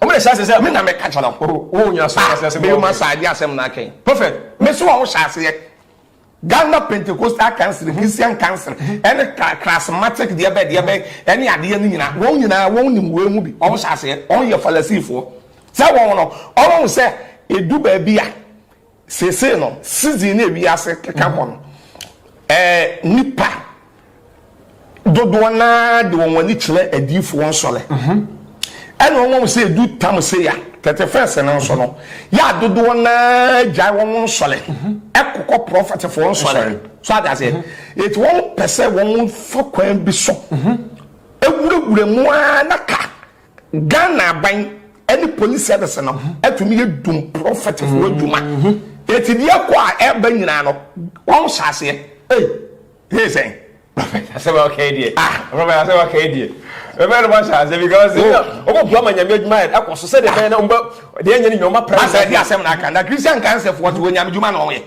Wɔn na ɛhyɛ aseɛ sɛ me na mɛka kyerɛ wo. Oh wo nyina so aseɛ sɛ me yoma saa agye asɛm na akɛn. Prophet me so a wo hyɛ aseɛ. Ghana pentecostal council Christian council ɛne charismatic deɛ bɛ deɛ bɛ ɛne adeɛ no nyina wɔn nyinaa wɔn nim wei ho bi wɔn hyɛ aseɛ wɔn yɛ falasifoɔ sɛ wɔn no wɔn sɛ edu baabi a Seesei no, season no a wiase keka kɔ no, eh, nnipa dodoɔ no ara de wɔn ani kyerɛ adiyifoɔ nsɔre. Mhm. Ɛna wɔn wɔn sɛ edu Tamuseya, thirty first no nso no, yɛ a dodoɔ no ara gyae wɔn wɔn nsɔre mhm. ɛkokɔ prɔfɛtefoɔ nsɔre. So ade aseɛ, mhm. eti wɔn pɛ sɛ wɔn fa kwan bi so ewurawura mu ara na ka Ghana aban ne polisi adasana ho atumi yɛ dum prɔfɛtfoɔ adwuma. Eti deɛ ɛkɔ a ɛba nyinaa no, wɔn hyɛ aseɛ. Ei, hee sɛn? Prɔfɛt asɛm a ɔka yi deɛ. Ah. Prɔfɛt asɛm a ɔka yi deɛ. Prɔfɛt no wɔhyɛ aseɛ because oh. wɔn bɔ ama nyame adwuma yɛ ɛkɔ so sɛdeɛ bɛyɛ na wɔn bɛ deɛ nyɛ ne nyɛ wɔn apra. Asa ɛdi asɛm na aka na Christian kansɛfoɔ te wɔ nyame adwuma na wɔn yɛ.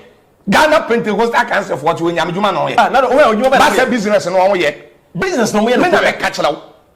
Ghana Pentecostal kansɛfoɔ te wɔ nyame adwuma na wɔn yɛ. Ah, na wɔn yɛ adwuma bɛyɛ. Basa business na wɔn yɛ. Business na wɔn yɛ. Mena mɛka kyerɛ wo.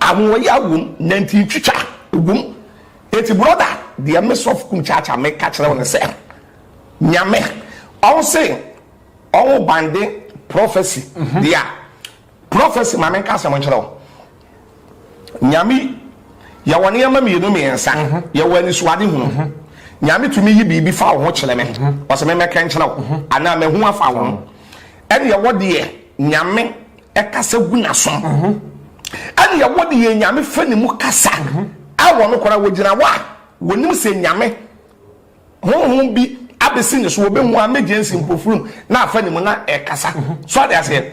Anwoɔyaa wom nantin twitwa wom enti brɔda deɛ me sɔfo kum kyaakyaa meka kyerɛ wo ne sɛ Nyame ɔnse ɔnwo bande prophecy deɛ prophecy ma menka asɛm nkyerɛ wo Nyame yɛwɔ nneɛma mmienu mmiɛnsa yɛwɔ anisuade hunu Nyame tumi yi biribi fa wo ho kyerɛ me ɔsɛ me mɛka nkyerɛ wo anaa mahu afa wo ho ɛne ɛwɔ deɛ Nyame Ɛkasa gu n'asom. Ɛne ɛwɔ de yɛ Nyame fɛ ne mu kasa. A wɔn kora wɔgyina hɔ a wɔnim sɛ Nyame honhom bi abɛsi ne so wɔbɛhu a mɛgye nsi mpofirim na afa ne mu na ɛkasa. So ade aseɛ?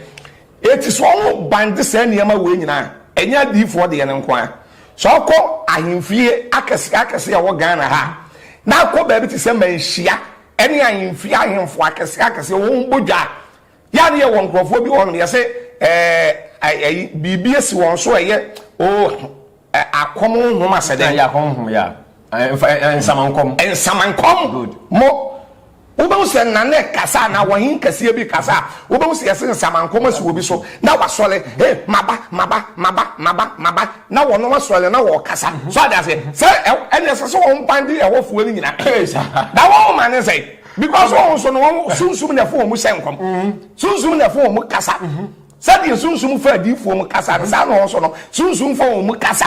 Eti sɛ ɔho ban de saa nneɛma wei nyinaa ɛnyɛ adiyifoɔ deɛ no nko a. Sɛ ɔkɔ ahemfie akɛseɛ akɛseɛ ɛwɔ Ghana ha a na akɔ baabi te sɛ Manhyia ɛne ahemfie ahemfo akɛseɛ akɛseɛ wɔn bɔ dwa a, Yɛ a ne yɛwɔ nkurɔfoɔ bi wɔ hɔnom, yɛse ɛɛ ɛyi biribi asi wɔn so a ɛyɛ oo akɔm honhom asɛ dɛn? Akɔm honhom yɛ a nsamankɔm. Nsamankɔm. Good. Mo wobɛhu sɛ nna ne kasa a na wɔhen kɛseɛ bi kasa a wobɛhu sɛ yɛse nsamankɔm asi wɔ bi so na wasɔre he maba maba maba maba maba na wɔnom asɔre na wɔkasa so ade aseɛ sɛ ɛne ɛsɛ sɛ wɔn ban de ɛhɔfoɔ no nyina na wɔn ma ne sɛ because wɔn nso no wɔn sunsun na ɛfo wɔn hyɛ nkɔm sunsun na ɛfo wɔn kasa sɛdeɛ sunsun fo adiifoɔ mu kasa no saa na wɔn nso no sunsun fo wɔn mu kasa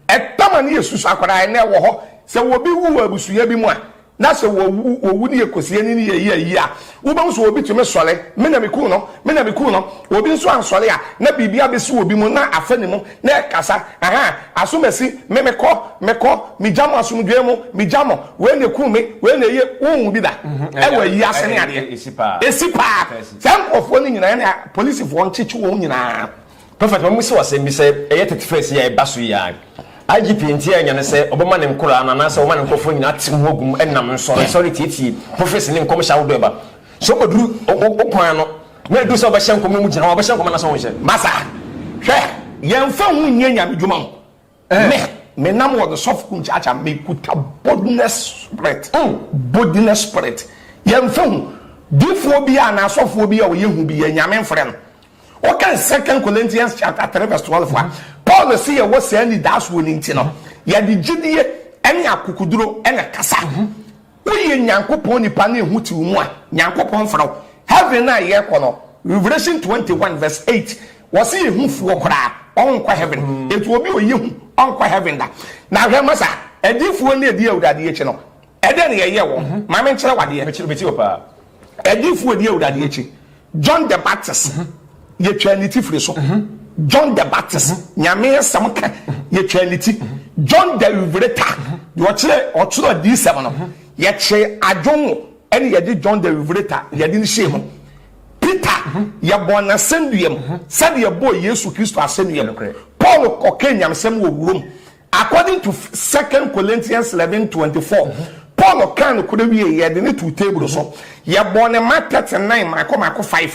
ɛtama ne yɛ susu akwadaa ɛnna ɛwɔ hɔ sɛ wɔbi wu wɔ abusua bi mu a na sɛ wɔwu wɔwu ne yɛ kosie ne ne yɛ yie yie a wobɛn so obi tumi sɔre me na me kun no me na me kun no obi nso ansɔre a na biribi abɛsi obi mu na afɛ ne mu Na ɛkasa, Aha, asom asi me, mekɔ, mekɔ, megya mo asomdwoeɛ mu, megya mo, wei na ɛkum me, wei na ɛyɛ, wonhu bi da wɔ ayi ase ne adeɛ. Ɛsi paa. Saa nkurɔfoɔ no nyinaa na polisifoɔ nkyekye wɔn nyinaa. Prophet ma me si wo asɛm bi sɛ ɛyɛ thirty first yi a ɛba so yi a IGP nti annya ne sɛ ɔbɛma ne nkoraa no anaasɛ ɔbɛma ne nkorɔfoɔ nyinaa atew ho agu mu ɛnam nsɔre nsɔre tietie prophecy ne nkɔmhyɛ ahodoɔ a ɛba so ɔduru wo kwan no Na edu sɛ ɔbɛhyɛ nkɔm na ɔmo gyina hɔ ɔbɛhyɛ nkɔm anaasɛ ɔnhyɛ? Masa, hwɛ, yɛnfa ho nyɛ Nyame dwuma o. Me, me nam wɔ Dosɔfo Kum Kyaakyaa, me kuta boldness spirit, boldness spirit. Yɛnfa ho difoɔ bi a anaa sɔfoɔ bi a ɔyɛ hu bi a Nyame mfrɛ no. Wo kan Second Corinthians chapter three verse twelve a, Paul se yɛwɔ saa anidaasoɔ no nti no, yɛde gyidie ɛne akokoduro ɛna ɛkasa. Woyɛ Nyankopɔn nipa na ehu te wo mu a, Nyankopɔn mfrɛ wo. Heaven no a yɛkɔ no, Revelation twenty one verse eight, wɔse ehu fi hɔ koraa, ɔnkɔ Heaven. Enti obi a ɔyɛ hu, ɔnkɔ Heaven da. Na hwɛ masa, adiyifoɔ no adi Awurade akyi no, ɛdeɛn na yɛyɛ wɔn? Ma menkyerɛ wo adeɛ. Mekyerɛ, metie wo paa. Ɛdiyifo a ɔdi Awurade akyi, John the Baptist, yɛtwaa ne ti firi so. John the Baptist, Nyame asɛm ka, yɛtwaa ne ti. John the Revelator, deɛ ɔkyerɛ ɔtoro adiyisɛm no, yɛkyee adwene ho, ɛna yɛde John the Revelator yɛde no hyɛɛ mu. Peter, yɛbɔɔ n'asɛnnua mu sɛdeɛ yɛbɔɔ Yesu Kristo asɛnnua mu. Paul kɔkaa nyamesɛm wɔ wuram. According to Second Corinthians eleven twenty four, Paul kaa nokorɛ wiee, yɛde no too table so, yɛbɔɔ no ma thirty nine mmaako mmaako five.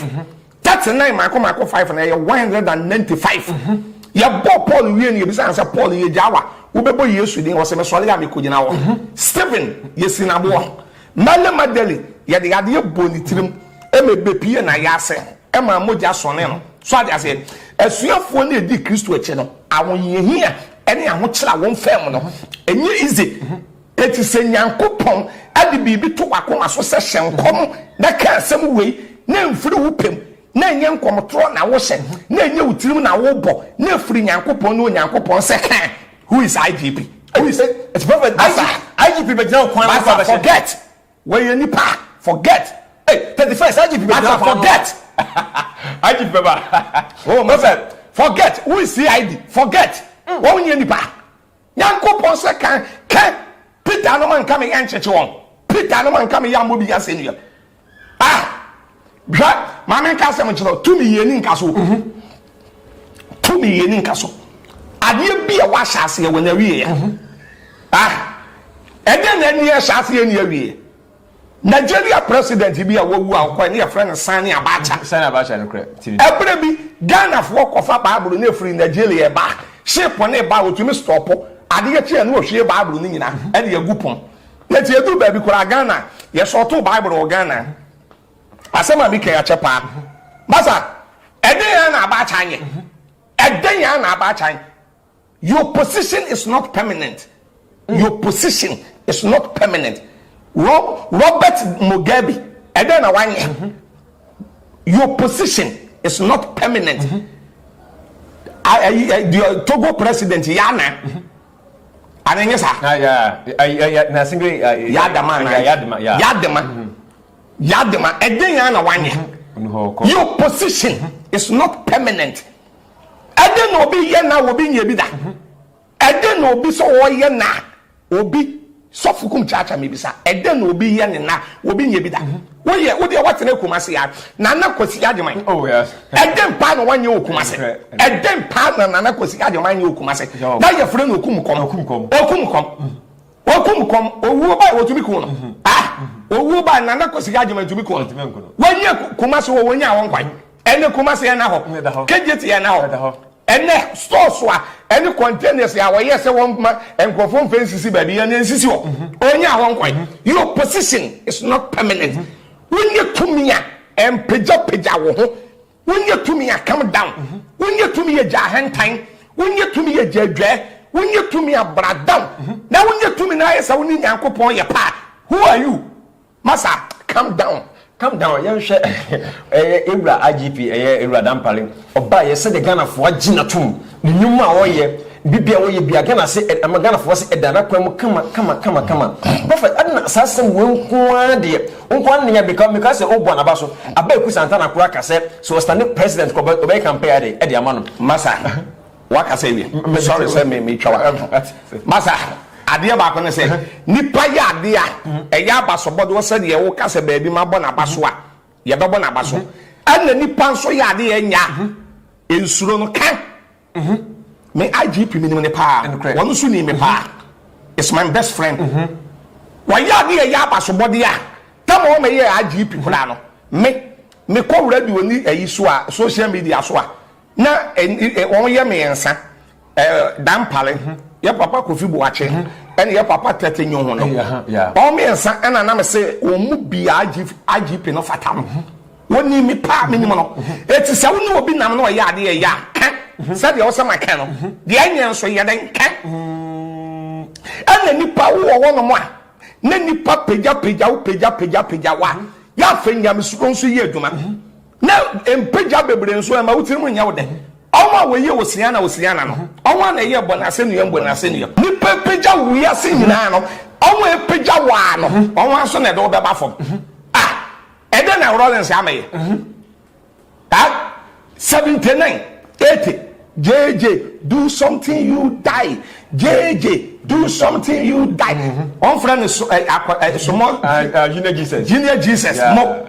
Thirty nine mmaako mmaako five no, ɛyɛ one hundred and ninety five. Yɛbɔɔ Paul wiee no, yɛbisaa no sɛ, Paul, yɛgyaa wo a, wobɛbɔ Yesu din? Ɔse, Mesɔree a, mekɔgyina hɔ. Stephen, yɛsii no aboɔ. Mary Magdalene, yɛde adeɛ bɔɔ ne tirim, ɛma ɛbɛpuee n'ayaase. ɛma mogya sɔne no. So ate aseɛ? Asuafoɔ no a ɛdi Kristo akyi no, ahohiahia ne ahokyerɛ a wɔmfaa mu no, ɛnyɛ easy. Enti sɛ Nyankopɔn de biribi to w'akoma so sɛ hyɛ nkɔm na ka asɛm wei, na ɛmfiri wo pɛ mu, na ɛnyɛ nkɔmtorɔ na wohyɛ, na ɛnyɛ wo tirim na wobɔ, na ɛfiri Nyankopɔn ne Onyankopɔn sɛ, Hɛ! Who is IGP? Who is, it's prophet Basa. IGP bɛgyina wo kwan ho, Basa forget. Wɔyɛ nipa forget ei thirty first agip bɛ gyina paa forget agip bɛ ba oh mo sɛ forget wo nsi id forget wɔn nyɛ nipa nyanko pɔn sɛ kan kɛ peter anoma nka mi yɛ nkyekye wɔn peter anoma nka mi yɛ amɔ bi yɛ asɛ nua ah. hwɛ maa mi nka asɛm nkyerɛ tumi yɛ ni nka so mhm. tumi yɛ ni nka so adeɛ bi a wahyɛ aseɛ wɔ n'awie yɛ mhm. ah ɛdɛ na ɛni ɛhyɛ aseɛ ni awie nigeria president bi a wawu a ɔkɔ ne yɛfrɛ no sani abacha sani abacha no korɛ ɛbrɛ bi ghanafoɔ kɔfa baabolo ne efiri nigeria ba ship ne ba otumi stɔpo adeɛ kyi a ne ohwie baabolo ne nyinaa mhm. ɛde egu pɔn yɛte edu baabi koraa ghana yɛsɔɔto baabolo wɔ ghana. Asɛm a mekɛn akyɛ paa. Masa, ɛdɛn ara na abaakyan yɛ? Ɛdɛn ara na abaakyan? Your position is not permanent. Your position is not permanent. Robert Mugabe, ɛdɛn na wanyɛ? Your position is not permanent. Togo president, Yana, Ana ɛnyɛ saa? Ah, yeah. Uh, yeah, yeah. Na sɛ bɛ. Uh, yadama ana. Yeah, yadama. Yeah. Yadama. Mm -hmm. Yadama. Ɛdɛn yɛn na wanyɛ? Mm -hmm. Your position mm -hmm. is not permanent. Ɛdɛn na obi yɛ na obi nyɛ bi da. Ɛdɛn na obi sɛ ɔyɛ na obi Sɔfo kum kyaakya mibisa ɛdɛn na obi yɛ ne na obi nyɛ bi da woyɛ wo deɛ watena Kumasi a Nana Kwasi Agyeman oh, ɛdɛn paa na wanyɛ wɔ Kumasi ɛdɛn paa na Nana Kwasi Agyeman nyɛ wɔ Kumasi na yɛfrɛ no okum kɔm okum kɔm okum kɔm okum kɔm owuo baa wɔtumi kun no ah owuo baa Nana Kwasi Agyeman tumi kun no wɔnyɛ Kumasi wɔ wɔnyɛ awɔ nkwan ɛne Kumasi ɛna hɔ Ɛda hɔ. Kejeti ɛna hɔ Ɛda hɔ. ɛnɛ stores a ɛne containers a wɔyɛ sɛ wɔn ma nkurɔfoɔ mfɛ nsisi baabi yɛ no ɛnsisi hɔ ɔnyɛ ahɔ nkwan your position is not permanent wonyɛ tumi a ɛmpegyapegya wo ho wonyɛ tumi a come down wonyɛ tumi a gya ahantan wonyɛ tumi a gya adwaɛ wonyɛ tumi a bra down na wonyɛ tumi na ayɛ sɛ wo ne Nyankopɔn yɛ paa who are you Masa calm down calm down yɛnhwɛ ɛyɛ ewura IGP ɛyɛ ewura Dampare ɔba yɛ sɛdeɛ Ghanafoɔ agye no atom ne nnwuma a ɔyɛ biribi a ɔyɛ bia Ghana se ɛma Ghanafoɔ se ɛda n'akwan mu kama kama kama kama Prophet Adena saa asɛm wei nko ara deɛ wo nko ara nea meka meka sɛ ɔbua n'aba so Abeaku Santana koraa ka sɛ sɛ ɔstande president kɔ ɔbɛyɛ campaign ɛde ɛde ama no Masa. Wakasa awie. Me sorry sɛ me me twa wakasa. Masa, adeɛ baako ne sɛ, nipa yɛ adeɛ a, ɛyɛ abasobɔde wɔ sɛdeɛ woka sɛ baabi mabɔ n'aba so a, yɛbɛbɔ n'aba so. Ɛna nipa nso yɛ adeɛ a ɛnyɛ a, nsuro no ka. Me IGP me nim no paa, wɔn nso nim me paa. It's my best friend. Wɔyɛ adeɛ a ɛyɛ abasobɔde a, tam a wɔmɛyɛ IGP koraa no, me, mekɔ radio ni ɛyi so a, social media so a, Na wɔn yɛ mmiɛnsa ɛɛ dampare hmm. yɛ papa kofi buakye hmm. ɛna yɛ papa tɛtɛ nyo ho no wɔn mmiɛnsa ɛna nam sɛ wɔn mu bia agp no fata no hmm. wɔn ni mi paa mi nim no eti sɛ wɔn ne obi nam na ɔyɛ adeɛ yɛ a kɛ sɛdeɛ ɔsɛ ma kɛ no deɛ ɛnyɛ nso yɛ dɛ kɛ ɛna nipa wo wɔ wɔn a ne nipa pagya pagya wo pagya pagya pagya wa yɛ afɛ nyamesuro nso yɛ adwuma. Na mpagya bebree nso ɛma wo tirim nyɛ wo dɛ. Ɔn a wɔyɛ Osiana Osiana no, ɔn a na ɛyɛ bɔ n'asɛnnua mu bɔ n'asɛnnua mu. Nnipa apagya wo wiase nyinaa no, ɔn a apagya wo ara no, ɔn ara nso na ɛde wo bɛba fam. Ah! Ɛdɛn na Rawlings ama yɛ? Ah! Seventy nine, eighty, JJ, do something you die, JJ, do something you die. Wɔn frɛ no so ɛ akɔ ɛ sumɔ. Ah, ah, Junior Jesus. Junior Jesus mo.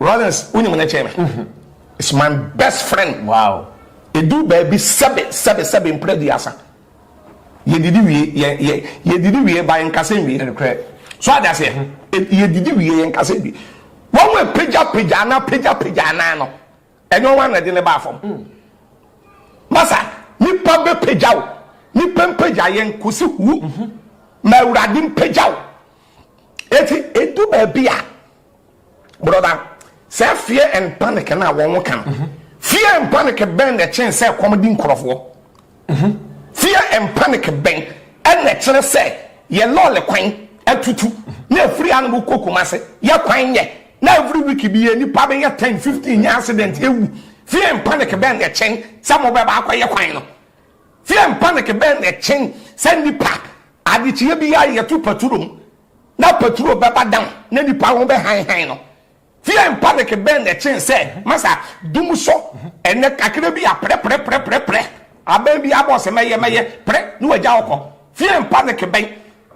Lawrence wo nyim no kyɛn me is my best friend wow edu baabi sɛbe sɛbe sɛbe mpra duasa yɛ didi wie yɛ yɛ yɛ didi wie ba yɛ nkasa nwie ɛnukurɛ so adi aseɛ mhm. e, yɛ didi wie yɛ nkasa nwie wɔn wɔ pagya pagya ana pagya pagya ana no ɛnyɛ wɔn ana ɛde ne ba afɔm mm. masa nipa bɛ pagya o nipa mpagya yɛ nkosi hu mhm. ma awurade mpagya o eti edu baabi a. Brɔda, sɛ fear and panic na wɔn ka no, mhm. fear and panic bɛn na ɛkyɛn sɛ kɔm di nkorɔfoɔ? Mhm. Fear and panic bɛn ɛna ɛkyerɛ sɛ yɛ lɔɔre kwan atutu na efiri anum kɔ kumase yɛ kwan yɛ na every week bi yɛ nipa bɛ yɛ ten fifteen yɛ accident ewu fear and panic bɛn na ɛkyɛn sɛ mo bɛ baako yɛ kwan no fear and panic bɛn na ɛkyɛn sɛ nipa adekyee bi yɛ ayɛ to paturom. Na Petro bɛba dan na nnipa ho bɛhanhan no. Fear and panic bɛn na ɛkyen sɛ masa dum so ɛnɛ kakra bi a prɛ prɛ prɛ prɛ prɛ abɛn bi abɔ sɛ mɛyɛ mɛyɛ prɛ na wagya ɔkɔ. Fear and panic bɛn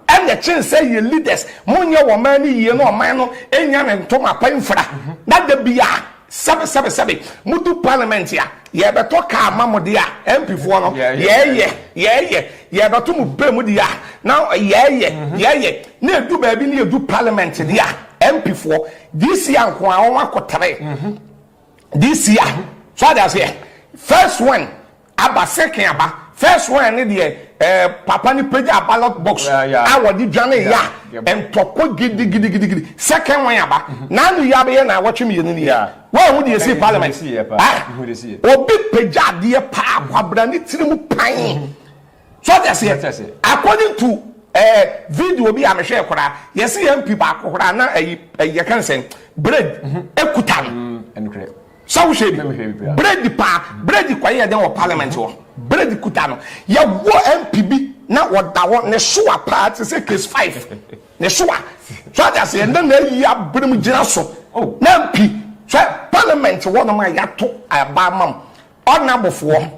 ɛna ɛkyen sɛ yɛ leaders monyɛ wɔn man no yie na ɔman no nya ne ntoma pa mfira na da biara Sɛbe sɛbe sɛbe mudu parliament a yɛbɛtɔ car ma mo de a MP foɔ no yɛɛyɛ yɛɛyɛ yɛbɛto mo pɛ mu de a na yɛɛyɛ mhm. yɛɛyɛ na edu baabi ne yɛdu parliament de a MP foɔ this year nko a wɔn akɔtare mhm. this year mhm. so adi aseɛ first one. Aba second aba first one ne deɛ eh, papa ne pagya ballot box a wɔde dwane yɛ a ntɔkwa gidigidigidi second one aba mhm. na ano yi abɛyɛ na awɔtwe mmienu ni yɛ wɔahu deɛ ɛsii parliament ah, obi pagya adeɛ paa kwabra ne tiri mu pan mhm. so ɔte aseɛ according to eh, video bi a mehwɛ koraa yɛse yɛ mpi baako koraa na ɛyɛ kansɛn bread mhm. ekuta no Sɛ wohwɛ bi, Brady paa, Brady kɔ yɛ dɛn wɔ parliament hɔ? Brady kuta no, yɛ wɔ MP bi na ɔda hɔ, ne soa paa te sɛ case five, ne soa, so ate aseɛ, na na ayi abirim gyina so, oh. na MP, so parliament hɔ nom a yɛato ɛba ama m, ɔna bofoɔ.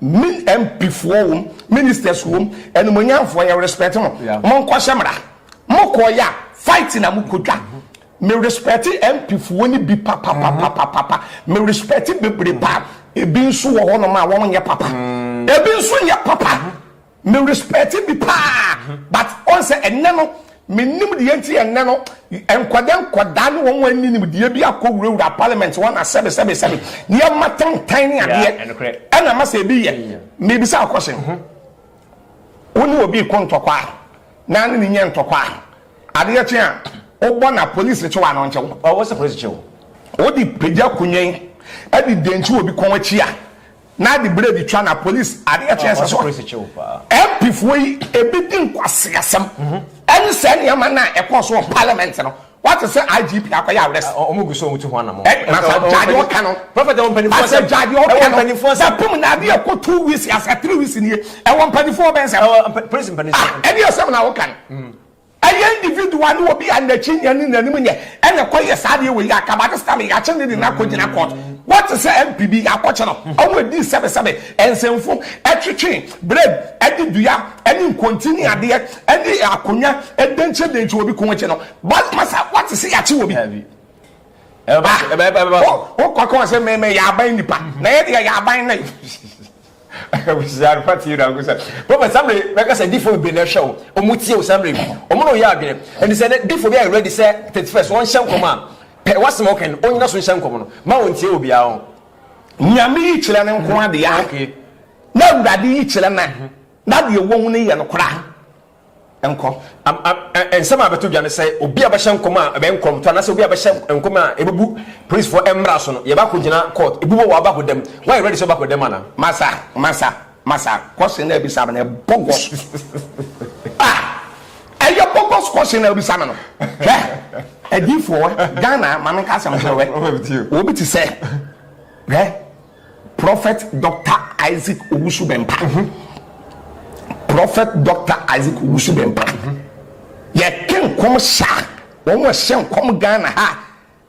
Me MP foɔ wom, ministers wom, animuonyamfoɔ yɛ respect mo, mo nkɔhyɛ mmra, mo kɔɔ yɛ a fight na mo kɔ dwa. Me respect MP foɔ no bi papapapapapa, me respect bebree paa, ebi nso wɔ hɔ nom a wɔn nyɛ papa, ebi nso nyɛ papa. Me respect bi paa but ɔn sɛ ɛnɛ no me nim deɛ nti ɛnɛ no nkɔdɛ nkɔdaa ne wɔn ani nim deɛ bi akɔ wura wura parliament wɔn na sɛbi sɛbi sɛbi ne yɛ ma tantan ne adeɛ ɛna ma sɛ ebi yɛ me bisa akɔhyɛ wɔn ne obi kɔ ntɔkwa na ne ne nyɛ ntɔkwa adeɛ kyen a wɔbɔ na polisi kyewa ano nkyɛw ɔwɔ sɛ polisi kyew wɔde pagya kunyen ɛde dɛnkyi obi kɔn akyi a. na de blade twa na police ade ɛkyɛ ɛsɛ so MP foɔ yi ebi di nkwaseasɛm ɛne sɛ nneɛma no a ɛkɔɔ so wɔ parliament no wate sɛ IGP akɔyɛ arrest ɔmo gu so ɔmo tu ho anamɔ nasa gyaade ɔka no asɛ gyaade ɔka no bɛpem na adeɛ ɛkɔ two weeks asɛ three weeks nie ɛwɔ mpanimfoɔ bɛn sɛ ɛne ɛsɛm na woka no Ɛyɛ individual ne obi a nakyi nyɛ ne nanim nyɛ ɛna ɛkɔ yɛ saa adeɛ wei yɛ akaba ne sika me yakye ne de no akɔ gyina court wote sɛ MP bi yakɔ kye no ɔmo ɛdii sɛbe sɛbe ɛnsɛmfo ɛtwetwe brɛm ɛde dua ɛne nkonti ne adeɛ ɛne akonwa ɛdenkye denkye obi ko akyi no bɔs masa wote sɛ yakye obi ah wokɔ kɔ sɛ me me yɛ aban nipa na yɛ deɛ yɛ aban ne. Abusua no fa tie na ko sɛ prophet samre bɛka sɛ difo bebree na ɛhwɛ wo ɔmo tie wo samre ɔmo na ɔyɛ adwene ɛnti sɛ ne difo bi ayɛ ready sɛ 31st wɔn hyɛ nkɔm a pɛ wasɛm a ɔka no ɔnyina so nhyɛ nkɔm no ma wɔn tie obiara ho Nyame yi kyerɛ no nko adea. Okay. Na awurade yi kyerɛ na na deɛ wɔhu no yɛ no kora. nkɔ. Nsɛm a ɛbɛto dwa ne sɛ obi a ɔbɛhyɛ nkɔm a ɛbɛyɛ nkɔmtɔ anaasɛ obi a ɔbɛhyɛ nkɔm a ɛbɛbu polisfoɔ mmara so no, yɛba kɔgyina court. Ebi wɔ hɔ a, wobɛ akɔ dam. Woayɛ ready sɛ wobɛkɔ dam anaa? Masa, masa, masa, question na ɛbisa me no ɛbogus. Ah! Ɛyɛ bogus question na ɛbisa me no. Hwɛ! Adiifoɔ, Ghana, ma menka asɛm kyerɛ wɛ. Obi te sɛ, hwɛ! Prophet Doctor Isaac Owusu Bempah mhm Prophet Doctor Isaac Owusu Bempah mhm Yɛke nkɔm hyɛ a wɔn ɛhyɛ nkɔm Ghana ha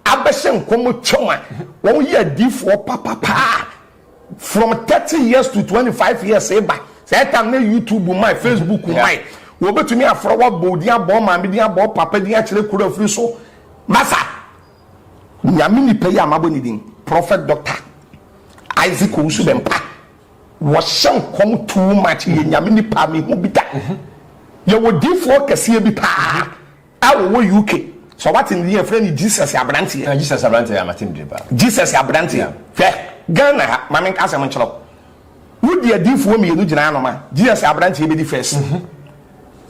abɛhyɛ nkɔm twam a wɔn yɛ adiifoɔ papapaa from thirty years to twenty five years eba sɛ ɛtam ne YouTube mmae Facebook mmae wɔbɛtumi afrɛ wo abɔ wo din abɔ wo maame din abɔ wo papa din akyerɛ kuro afiri so masa. Nyame nipa yi a mabɔ ne din, Prophet Doctor Isaac Owusu Bempah, wɔhyɛ nkɔm too much, yɛ Nyame nipa a mehu bi da. Yɛwɔ difoɔ kɛseɛ bi paa a wɔwɔ UK, sɛ wate ne din a, yɛfrɛ no Jesus Abranteɛ. Jesus Abranteɛ, yeah, mate ne din paa. Jesus Abranteɛ, hwɛ, Ghana ha, ma menka asɛm nkyerɛ wo, Wode adiyifoɔ mmienu gyina hanom a, gye yɛ sɛ aberanteɛ yi bɛdi first.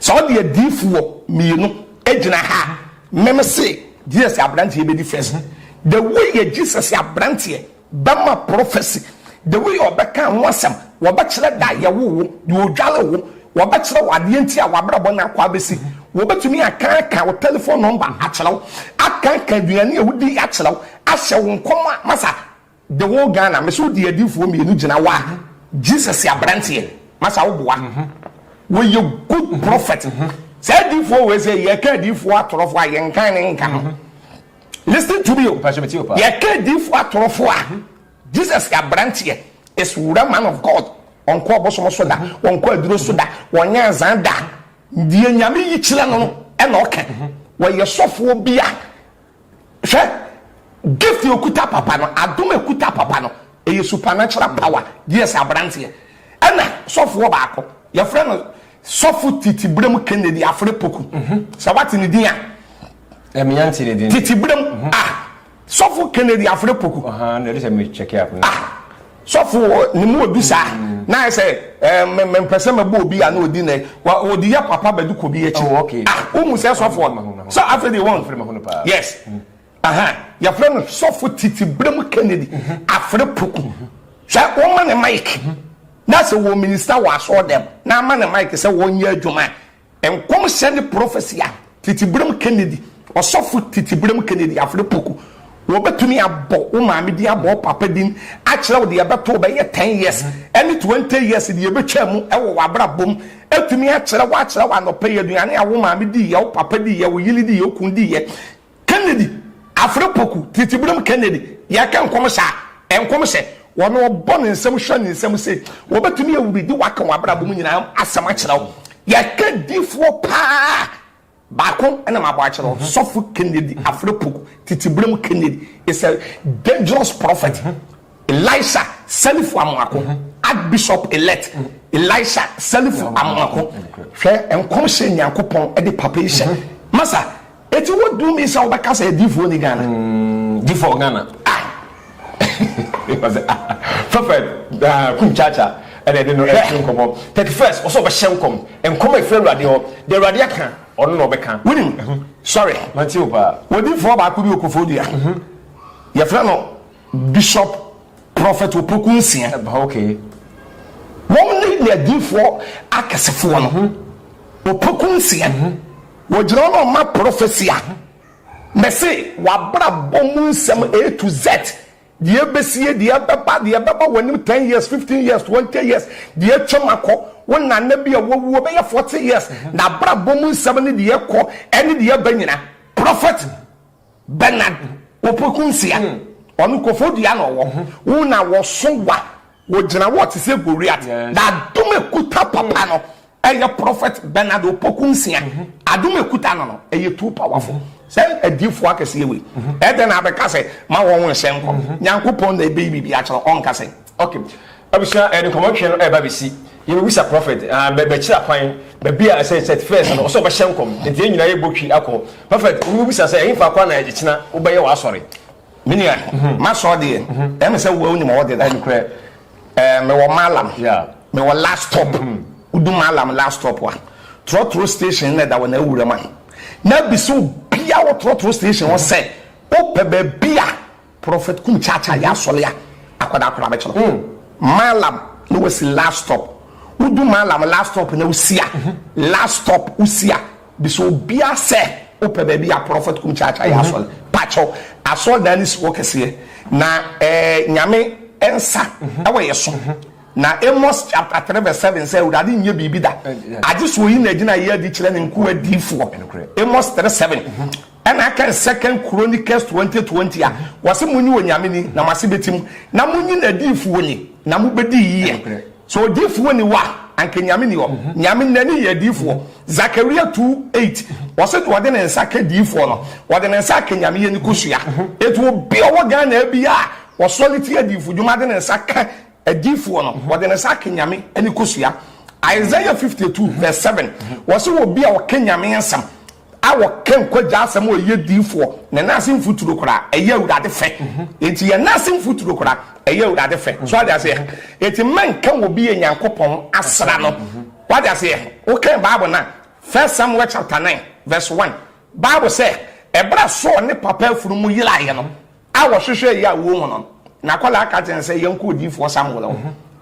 Sɛ wode adiyifoɔ mmienu gyina ha a, me me se, gye yɛ sɛ aberanteɛ yi bɛdi first. The way yɛgye sɛ sɛ aberanteɛ bɛma prophecy, the way ɔbɛka ho asɛm, wɔbɛkyerɛ da a yɛwoo wo, deɛ ɔdware wo, wɔbɛkyerɛ wo adeɛ nti a w'abrabɔ no akɔ abɛsi, wɔbɛtumi akaaka wo telephone number akyerɛ wo, akaaka aduane a wodi akyerɛ wo, ahyɛ wo nkɔm a, masa, The whole Ghana mese wo de adiifoɔ mmienu gyina wa Jesus abranteɛ masa wo boa wo yɛ good prophet saa adiifoɔ wei sɛ yɛ ka adiifoɔ atorɔfoɔ a yɛ nkan ne nka no listen to me o yɛ ka adiifoɔ atorɔfoɔ a Jesus abranteɛ is real man of God ɔnkɔ ɔbosom so da ɔnkɔ aduro so da ɔnyɛ nzan da deɛ nyame yi kyerɛ no no ɛna ɔka wɔyɛ sɔfoɔ bi a Hwɛ, gift a okuta papa no, adom a ekuta papa no, ɛyɛ supernatural power. Yes, abranteɛ. Ɛna sɔfoɔ baako, yɛfrɛ no Sɔfo Titibrem Kennedy Afre Poku. Mhm. Sɛ wate ne din a. Ɛmi eh, ante ne din. Titibrem. Mhm. Ah, Sɔfo Kennedy Afre Poku. Aha, na ɛde sɛ mi check up. Ah, sɔfo ne mu odu saa na ayɛ sɛ mempɛ sɛ mɛbɔ obi a na ɔdi nɛ ɔde yɛ papa bɛde kɔ bi akyi oh, ah, wohu sɛ sɔfoɔ no sɛ afei deɛ wɔn yes yɛfrɛ no sɔfo titi berɛm kennedy mhm. afere poku mhm. sɛ woma ne mike mhm. na sɛ wɔ minista wɔ asɔɔ dɛm na ama ne mike sɛ wɔnyɛ adwuma Nkɔmhyɛ ne Prophecy a Titiberem Kennedy, Ɔsɔfo Titiberem Kennedy Afrepoku, Wɔbɛtumi abɔ wo maame din, abɔ wo papa din, akyerɛ wo deɛ ɛbɛto wo bɛyɛ ten years ne twenty years deɛ ɛbɛtwaa mu wɔ w'abrabɔ mu, atumi akyerɛ wo, akyerɛ wo anɔpa yi aduane a wo maame diiɛ, wo papa diiɛ, wo yere diiɛ, wo kunu diiɛ. Kennedy afere poku titi berem Kennedy yɛka nkɔmhyɛ a nkɔmhyɛ wɔ no ɔbɔ ne nsam hwɛ ne nsam se wɔbɛtumi awuridi waka wɔ abrabɔ mu nyinaa asɛm akyerɛ wo yɛka difoɔ paa baako ɛna mabɔ akyerɛ wo mhm. sɔfo Kennedy afere poku titi berem Kennedy is a dangerous prophet mhm. Elisha Selifu Amoako, Archbishop-elect Elisha Selifu Amoako, hwɛ nkɔmhyɛ Nyankopɔn de papa yi hyɛ. Masa, eti wo dum yi sɛ wobɛka sɛ adiifoɔ ni Ghana? Mm, diifoɔ Ghana. Ah! Masa, ah, fɛfɛ, ah, kum kyaakya, ɛna ɛde no ɛtu nkɔmɔ. Thirty first, ɔsɛ ɔbɛhyɛ nkɔm, nkɔm a ɛfiri Awurade hɔ, deɛ Awurade aka, ɔno na ɔbɛka. Wonim, sɔre, wɔdiifoɔ baako bi wɔ Kofoɔ dua, yɛfrɛ no Bishop Prophet Opoku Nsia. Wɔn ne ne adiyifoɔ akɛsefoɔ no. Opoku Nsia, wɔgyina hɔ na wɔma prophecy a mese w'abrabɔ mu nsɛm A to Z, deɛ ɛbɛsie, deɛ ɛbɛba, deɛ ɛbɛba w'anim ten years, fifteen years, twenty years, deɛ atwam akɔ, wo nana bi a wawuo bɛyɛ forty years, n'abrabɔ mu nsɛm ne deɛ ɛkɔ ne deɛ ɛba nyina. Prophet. Bernard Opoku nsia, ɔno kofo dua na ɔwɔ. Wo na wɔso wa, wɔgyina wo ɔte sɛ Goliath. Na adom ɛkuta papa no, ɛyɛ Prophet Bernard Opoku nsia. Adom ɛkuta no no, ɛyɛ too powerful. Sɛ adiyifoɔ akɛseɛ wei, ɛdɛn na abɛka sɛ ma wɔn nhyɛ nkɔm? Nyankopɔn na ɛbɛyi biribi akyerɛ wo, ɔnka sɛ. Ok abusua yɛde nkɔmɔ twɛn no ɛɛba bɛsi yɛbɛbisa prɔfɛt aah bɛ bɛkyerɛ akwan baabi a ɛsɛ sɛt fɛs no ɔsɛ ɔbɛhyɛ nkɔm nti yɛn nyinaa yɛbɔ twi akɔ prɔfɛt obi bɛbisa sɛ ɛhefa kwan na ɛkyena wobɛyɛ w'asɔre. Me nua m'asɔre deɛ ɛyɛ me sɛ wo a wonim a wɔde da ɛnokorɛ ɛɛ mewɔ malam mewɔ last stop wodu malam last stop a trɔtrɔ station na ɛda wɔ na awuram a na bisa obi a wɔ trɔtrɔ station hɔ sɛ wopɛ baabi a Prophet kum kyaakyaa yɛ asɔle a akwadaa koraa bɛkyɛ no Maalam na wasi last stop wodu Maalam last stop na wosi a last stop wosi a bisa obia sɛ wopɛ baabi a Prophet kum kyaakyaa yɛ asɔle pakyɛw asɔre dan no si hɔ kɛseɛ na eh Nyame nsa ɛwɔ yɛ so na Amos chapter 3 verse 7 sɛ Awurade nyɛ biribi da agye sɛ oyi na agyina yɛ adi kyerɛ ne nkoa adiifoɔ Amos 3 7 Ɛna aka no Second Chronicles twenty twenty a wɔse monye Onyame ni na moase bɛte mu, na monye n'adiyifoɔ ni na mobɛdi yiye. Sɛ odiyifoɔ nni hɔ a anka Nyame nni hɔ. Nyame N'ani yɛ adiyifoɔ. Zakaria two eight ɔse deɛ ɔde ne nsa ka diyifoɔ no ɔde ne nsa aka Nyame yɛni kosua. Enti obi a ɔwɔ Ghana ha biara a ɔsɔre tia adiyifo dwuma de ne nsa ka adiyifoɔ no ɔde ne nsa aka Nyame ɛni kosua. Isaiah fifty two verse seven ɔse obi a ɔka Nyame nsɛm a wɔka nkwagya asɛm a ɔyɛ diifoɔ na nan ase mfuturo koraa ɛyɛ awurade fɛ nti yɛ nan ase mfuturo koraa ɛyɛ awurade fɛ so ade aseɛ nti mɛnka wɔ bi yɛ nyankopɔn asra no wade aseɛ wokan bible no a first samuel chapter 9 verse 1 bible sɛ ɛberɛ a saul ne papa afunu mu yeraeɛ no A wɔhwehwɛɛ yɛ a wɔ mu no, n'akwadaa ka kyerɛɛ no sɛ, Yɛnkɔ odiyifoɔ Samuel hɔ.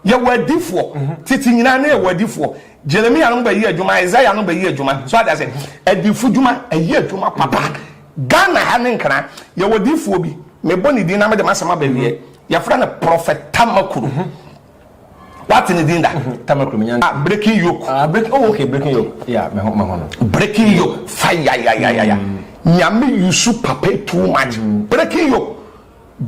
Yɛwɔ adiyifoɔ. Tete nyinaa na yɛwɔ adiyifoɔ. Jeremia no bɛyɛ adwuma, Isaiah no bɛyɛ adwuma. So ade ase? Adiyifo dwuma, ɛyɛ adwuma papa. Ghana ha ne Nkran, yɛwɔ diyifoɔ bi, mebɔ ne din na mede m'asɛm aba awiɛ, yɛfrɛ no Prɔfɛt Tamakuru. wate ne din da. Mhm, Tama Kuruminya. Ah, breaking yoke. Ah, breaking, oh, okay, breaking yoke. Yeah, me ho, me ho no. Breaking yoke, fire, ya, ya, ya, ya. Mm. Nyame yusu papa e too much. Mm. Breaking yoke,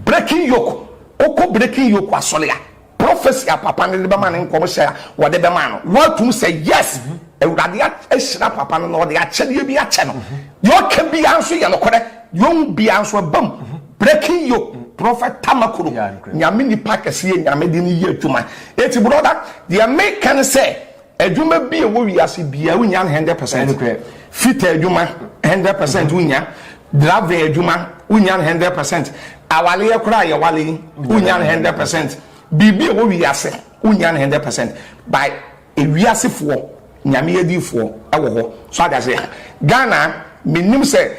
breaking yoke. Oko breaking yoke asɔre a, prophecy a papa ne de bɛma ne nkɔm hyɛ a wɔde bɛma no. Wɔatum sɛ yes, mm-hmm. Awurade ahyira papa no na ɔde akyɛdeɛ bi akyɛ no. Deɛ ɔka biara nso yɛ nokorɛ. Deɛ ɔhu biara nso ɛba mu. Breaking yo, Prɔfɛt Tamaku no, Nyame nipa kɛseɛ, Nyame de no yɛ adwuma. Enti brɔda, deɛ meka ne sɛ, adwuma bi a ɛwɔ wiase biara wonnya no hundred percent. Fitter adwuma, hundred percent wonnya. Driving adwuma, wonnya no hundred percent. Awareɛ koraa a yɛware yi, wonnya no hundred percent. Biribi a ɛwɔ wiase, wonnya no hundred percent. By Ewiasefoɔ Nyame adiyifoɔ wɔ hɔ so ate aseɛ Ghana mennim sɛ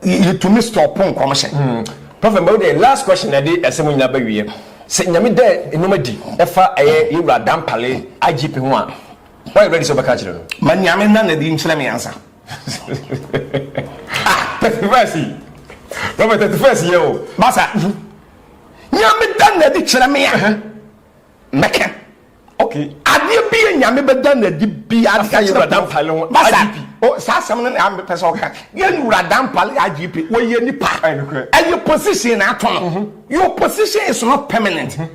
yɛtumi stop nkɔmhyɛ. Prophet mma wo deɛ last question na ɛde asɛm nyinaa ba wieɛ sɛ Nyame da nnoɔma adi ɛfa ɛyɛ yɛ wura Dampale IGP ho a woayɛ ready sɛ wobɛka akyerɛ no. Ma Nyame nna no adi nkyerɛ me ansa ah. Thirty first yi Prophet thirty first yɛ o. Masa Nyame da no adi kyerɛ me a mɛka. Okay. Adeɛ bi yɛ nyame bɛda no adi bia de ka kyerɛ pɔmpale ho IGP. O saa asɛm no na ambe pɛ sɛ ɔka. Yɛ nwura dampale IGP wɔyɛ nipa. Ɛyɛ position na ato no. Mhm. Your position is not permanent. Mhm.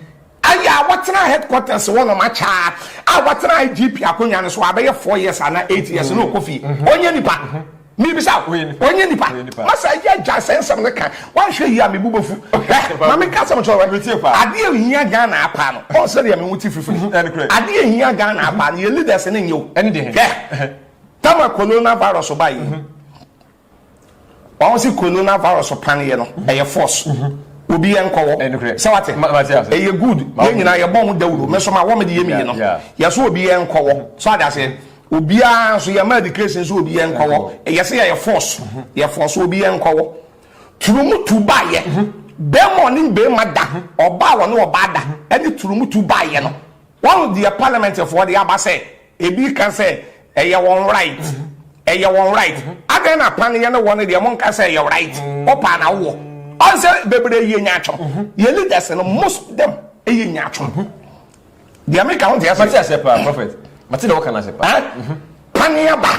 Ayɛ a wɔtena headquarters wɔ nom akyɛa a wɔtena IGP akonnwa no so abɛyɛ four years ana eight years mhm. na ɔkɔ fie. Ɔnyɛ nipa. Mebisa, wonyɛ nipa? Masa agya agyae sɛ nsɛm no ka, wanhwɛ yie a mebu bɛfu. Hwɛ, ma menka asɛm nkyerɛ wo, adeɛ a ɛhia Ghana ara paa no, Paul sɛdeɛ me ho te firifiri, adeɛ a ɛhia Ghana ara paa no yɛ leaders ne nyɛ o. Hwɛ, tama Corona virus baeɛ yi, wɔn se Corona virus paneɛ no, ɛyɛ force, obi ɛnkɔ wɔ, sɛ wate, ɛyɛ good, yɛn nyinaa yɛbɔ ho dawuro, me nso mawɔ me deɛ mmienu, yɛse obi ɛnkɔ wɔ, so ate aseɛ? Obiara nso yɛma education nso obi yɛn kɔwɔ. Ɛyɛ sɛ yɛyɛ force, yɛ force obi yɛn kɔwɔ. Turumutu baayɛ, bɛɛma ɔne bɛɛma da, ɔbaa wɔne ɔbaa da, ɛne turumutu baayɛ no. Wahu deɛ parliament foɔ de aba sɛ ebi ka sɛ ɛyɛ wɔn right, ɛyɛ wɔn right. Adɛn na pan yɛ ne wɔ no deɛ mo nka sɛ ɛyɛ right, wo paa na wo wɔ. Ɔn sɛ bebree yɛ nyaatwom, yɛ leaders no most of them yɛ nyaatwom. Deɛ meka ho nteɛ ase. Mate aseɛ paa prophet. Mate deɛ wɔka no ase paa. Paneɛ ba.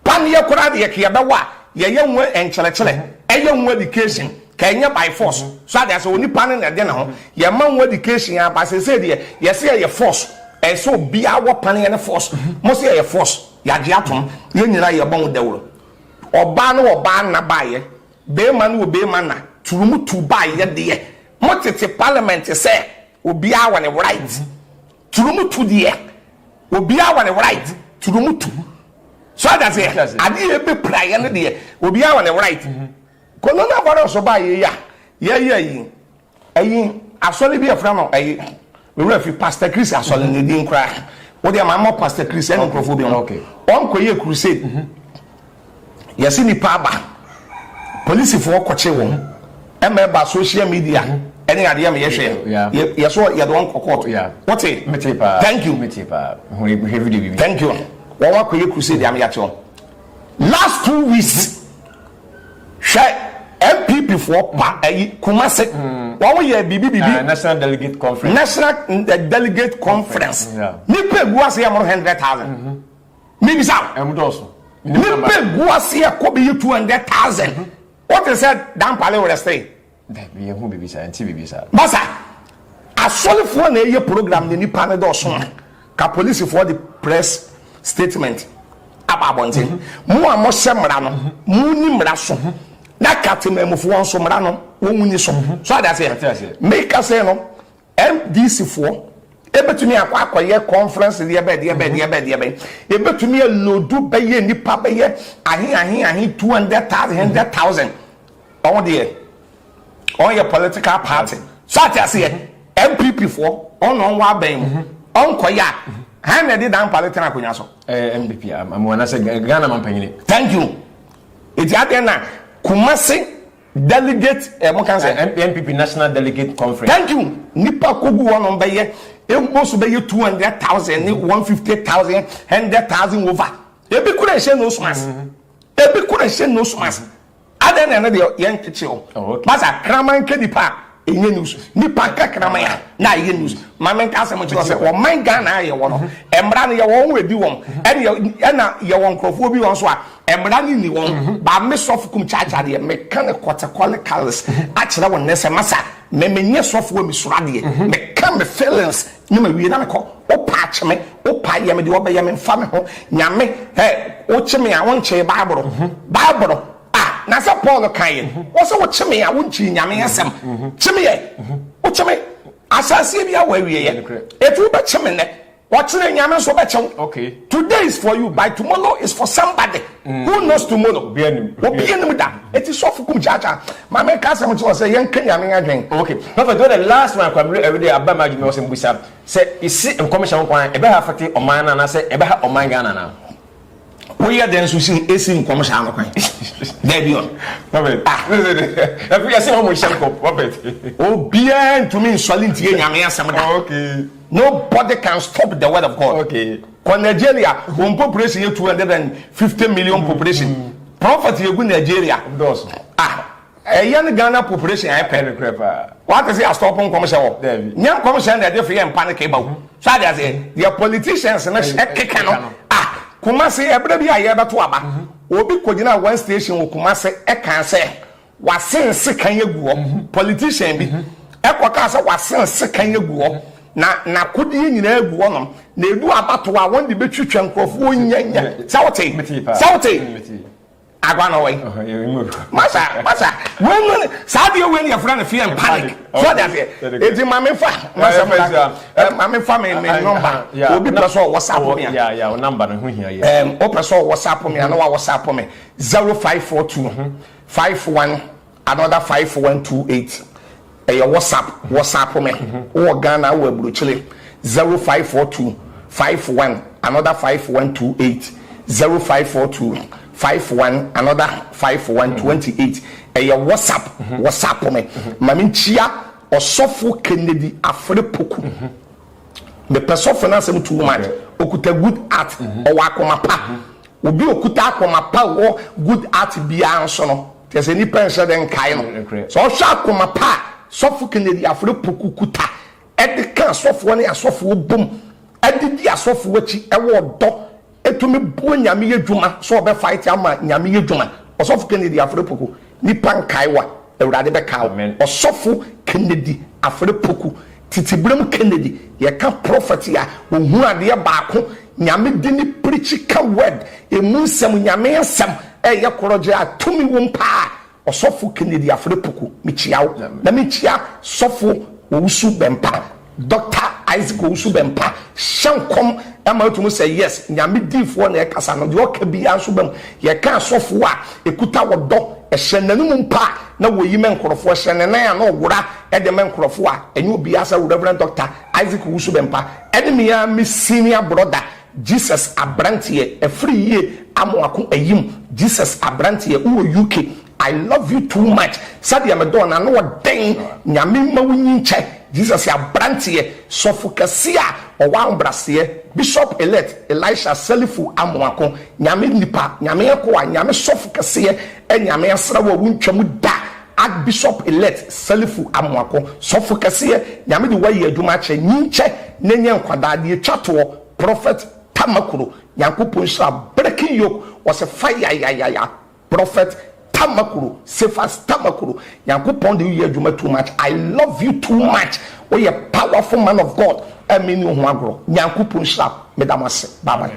Paneɛ koraa deɛ ka yɛbɛwɔ a yɛyɛ ho nkyerɛkyerɛ. Ɛyɛ ho education. Ka ɛnyɛ by force. So ade ase onipa no na ɛde ne ho. Yɛma ho education a ba sese deɛ yɛse yɛyɛ force. Ɛyɛ sɛ obiara wɔ paneɛ ne force. Mo se yɛyɛ force. Yɛagye atom. Yɛn nyinaa yɛbɔ ho dawuro. Ɔbaa no wɔ ɔbaa nna baeɛ. Beema no wɔ beema nna. Turumu tu baeɛ deɛ. Mo tete parliament sɛ Obiara wɔ ne right turum tu deɛ obiara wɔ ne right turum tu so ɔda se adeɛ ebe pira yɛ no deɛ obiara wɔ ne right mhm. corona virus ɔbaa yɛ yi a yɛyɛ yi ɛyi asɔre bi ɛfra no ɛyi mewura fi pastor chris asɔre ne din koraa wodeɛ ma mɔ pastor chris ɛne nkurɔfoɔ bi no ɔnkɔ yɛ crusade mhm. Yɛse nnipa aba, polisifoɔ kɔkye wɔn ɛma ɛba social media ɛne adeɛ ma yɛhwɛ yɛso yɛde wɔn kɔ court wote thank you thank you wɔn akɔyɛ crusade ama yɛakye wɔn last two weeks hwɛ npp foɔ pa ayi Kumase wɔn yɛ biribi biribi national delegate conference national delegate conference nipa egu ase yɛ moro hundred thousand. Mebisa wo. Ɛmu dɔɔso. Nipa gu ase a kɔ bɛyɛ two hundred thousand. Mhm. Wote sɛ dampale wɔ rɛstere? Dabi yɛn ho bibi saa, yɛn ti bibi saa. Basa, asɔrefoɔ na ɛyɛ program na nipa no dɔɔso a, ka polisifoɔ de press statement aba abɔnten. Mhm. Mo a mohyɛ mmara no, mhm. mo ni mmara so. Mhm. Na ka temanmufoɔ nso mmara no, wɔn ni so. So ade aseɛ? Meka sɛ no, MDC foɔ ɛbɛtumi akɔ akɔyɛ conference deɛ bɛn deɛ bɛn deɛ bɛn deɛ bɛn ɛbɛtumi ɛlodu bɛyɛ nipa bɛyɛ ahe ahe ahe two hundred thousand hundred thousand ɔho deɛ ɔn yɛ political party so ate aseɛ MPP foɔ ɔn na ɔnwɔ abɛn mu ɔnkɔyɛ a han na ɛde dan pale tena akonnwa so. ɛɛ MDP amu anasɛ Ghana mampanyini. thank you eti adeɛ na Kumasi. delegate ɛ eh, mo kan sɛ NPP national delegate conference. thank you nipa kogu hɔ nom bɛyɛ ebo so bɛyɛ two hundred thousand ne mm-hmm. one fifty thousand hundred thousand over ebi kura ɛhyɛ nose mask mm-hmm. ebi kura ɛhyɛ nose mask mm-hmm. adan na ɛno deɛ yɛn kyekyɛ o basa kraman kɛ nipa. ɛnyɛ news nipa nkakraman a na ɛyɛ news maame nka asɛm nkyerɛ sɛ ɔman ghana a yɛwɔ no mmara no yɛwɔ wɔn ɛdi wɔn ɛna yɛwɔ nkurɔfoɔ bi wɔn so a mmara no nni wɔn baa me sɔfo kum kyaakyaa deɛ meka ne kɔtekɔle kalis akyerɛ wɔn nɛ sɛ masa me menyɛ sɔfoɔ mesoro adeɛ meka me feelings ne ma wie na mekɔ wopa akye me wopa yɛ me deɛ ɔbɛyɛ me mfa me ho nyame ɛ wokye me a wonkyee baaboro baaboro A, na sɛ Paul kaeɛ, wɔsɛ wokye me a wonkyiri Nyame asɛm. Kye me ɛ, wokye me ahyɛaseɛ biara wɔ awieɛ. Ɛti wobɛkye me nnɛ, ɔkyena Nyame nso bɛkye wo. Today is for you, by tomorrow is for somebody. Who knows tomorrow? Obia nim da. Ɛti sɔfo kum kyaakyaa. Ma me ka asɛm kye wɔ sɛ yɛntwe Nyame adwen. Okay, Prophet, wɔ the last one kwa mmerɛ awude aba ma adwuma wɔ sɛ mbisa sɛ isi nkɔmhyɛ ho kwan ɛbɛha fete ɔman no anaasɛ ɛbɛha ɔman Ghana anaa? Woyɛ dɛn nso si esi nkɔm saa no kwan? Dabi ɔn. Robert. Ah. Ɛfo yɛ sɛ ɔmo hyɛ nkɔm. Robert. Obiara ntumi nsɔre ntie nyame asɛm da. Oh, okay. Nobody can stop the word of God. Okay. Kɔ Nigeria, wɔn population yɛ two hundred and fifty million population. Mm. Prophet yɛ gu Nigeria. Dɔɔso. Ah. Ɛyɛ ne Ghana population a ɛpɛ nokorɛ paa. Wate se astop nkɔmhyɛ wɔ? Daabi. Nyɛ nkɔmhyɛ na ɛde feɛ mpa no kee bahu. So ate aseɛ? Deɛ politicians no hyɛ keka no ah. Kumasi ɛberɛ bi a yɛrebɛto aba, obi kɔgyinaa one station wɔ Kumasi ɛkaa sɛ wasen sekan agu hɔ. Politician bi ɛkɔkaa sɛ wasen sekan agu hɔ na n'akodeɛ nyinaa agu hɔnom. Na ɛdu abatoɔ a wɔn de bɛtwitwa nkorɔfoɔ nyanya. Sɛ wote? Sɛ wote? Agwa na ɔwɔ yi. Masa masa wei no saa deɛ wei no yɛfrɛ no fear and panic. So ɔde aseɛ eti maame fa masa mu na maame fa mi mi nɔmba obi pɛ sɛ ɔwɔ sa po mi a. O namba no ho hia yɛ. Ɛɛm o pɛ sɛ ɔwɔ sa po mi a na wa wɔ sa po mi zero five four two five one. Another five one two eight ɛyɛ whatsapp whatsapp me wo wɔ Ghana wo wɔ aburokyire zero five four two five one another five one two eight zero five four two five one another five one twenty eight ɛyɛ whatsapp whatsapp me ma me nkyia ɔsɔfo Kennedy Afere Poku mepɛ sɔfo no asɛm too much okuta good heart ɔwɔ akoma pa. Obi a ɔkuta akoma pa wɔ good art biara nso no, kyerɛ sɛ nnipa nhyɛ dɛ nkae no. Sɛ ɔhwɛ akoma pa a Sɔfo Kennedy Afrepoku kuta de ka asɔfoɔ ne asɔfoɔ bom de di asɔfoɔ akyi wɔ ɔdɔ, ɛtumi boa Nyame yɛ dwuma sɛ ɔbɛ fight ama Nyame yɛ dwuma. Ɔsɔfo Kennedy Afrepoku, Nipa nkae wa, Awurade bɛkae wo. Amen. Ɔsɔfo Kennedy Afere Poku, Titiberem Kennedy, yɛ ka prophet a ohunu adeɛ baako, Nyame di ne prikyi ka word, emu nsɛm, Nyame asɛm ɛyɛ korɔgye a tumi wom paa, Ɔsɔfo Kennedy Afere Poku, mekyia wo, na mekyia Sɔfo Owusu Bempah. Dɔkta Isaac Owusu Bempah hyɛ nkɔm ma etu mu sɛ, Yes, Nyame diyifoɔ na ɛkasa no, deɛ ɔka biara nso ba mu. Yɛka asɔfoɔ a ɛkuta ɔdɔ hyɛ n'anom mpo a, na wɔyi ma nkorɔfoɔ, ɛhyɛ ne nan a na ɔwora de ma nkorɔfoɔ a, ɛnyɛ obiara saa. Rev. Dɔkta Isaac Owusu Bempah ɛne me ara me senior brother, Jesus Abranteɛ, ɛfiri yie Amoako Ayim, Jesus Abranteɛ, wowɔ UK. I love you too much sɛdeɛ me dɔɔ no ano wɔ dɛn Nyame mma wo nyin kyɛ Jesus yɛ abranteɛ sɔfo kɛseɛ a ɔwɔ ahobraseɛ Bishop Elect Elisha Selifu Amoako Nyame nipa Nyame akoa Nyame sɔfo kɛseɛ Nyame asra wo a wo ntwa mu da Archbishop Elect Selifu Amoako sɔfo kɛseɛ Nyame de wo ayɛ adwuma akyɛ nyin kyɛ na nya nkwadaa deɛ ɛtwa toɔ Prophet Tamakuro Nyankopɔn nhyira Breaking yoke ɔse fire yayaya Prophet Tamakuro Cephas Tamakuro Nyankopɔn de wo yɛ adwuma too much I love you too much wo yɛ powerful man of God a me nni wo ho agorɔ Nyankopɔn nhyira wo me da mo ase bye bye.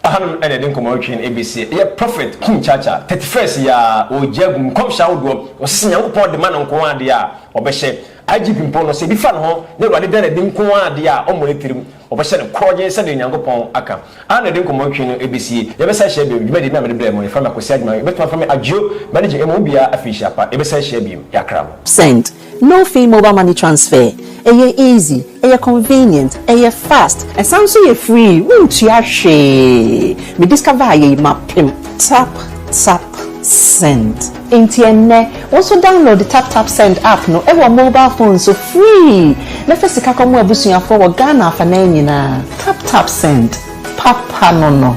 Ɛhanom na yɛde nkɔmmɔ retwe no ɛbesie. Ɛyɛ Prophet King Chacha, thirty first yi ara, ɔregye agu nkɔmhyɛ ahodoɔ. Ɔse sɛ Nyankopɔn de ma no nko ara deɛ a, ɔbɛhyɛ. IGP mpo no, sɛ ɛbi fa ne ho na Awurade da no adi nko ara deɛ a, ɔmmɔ ne tirim. Wɔbɛhyɛ no korɔgyenn sɛdeɛ Onyankopɔn aka. Ann na yɛde nkɔmmɔ ntwee no ɛbɛsie. Yɛbɛsan ahyia bio. Dwumadie bi a mede brɛɛ mo, yɛfrɛ me Akwasi Agyemang. Yɛbɛtumi afrɛ me Agyeo, Manager, ɛma obiara afenhyia pa. Yɛbɛsan ahyia bio. Yɛakra mo. Send, No fee mobile money transfer, ɛyɛ easy, ɛyɛ convenient, ɛyɛ fast, ɛsan nso yɛ free, wontua hwee, me discover ayɛ yi mapem, tap tap send. Enti ɛnnɛ, wo nso download TapTapSend app no wɔ mobile phone so free na fa sika kɔma w'abusuafoɔ wɔ Ghana afanan nyinaa. TapTapSend, papa no no.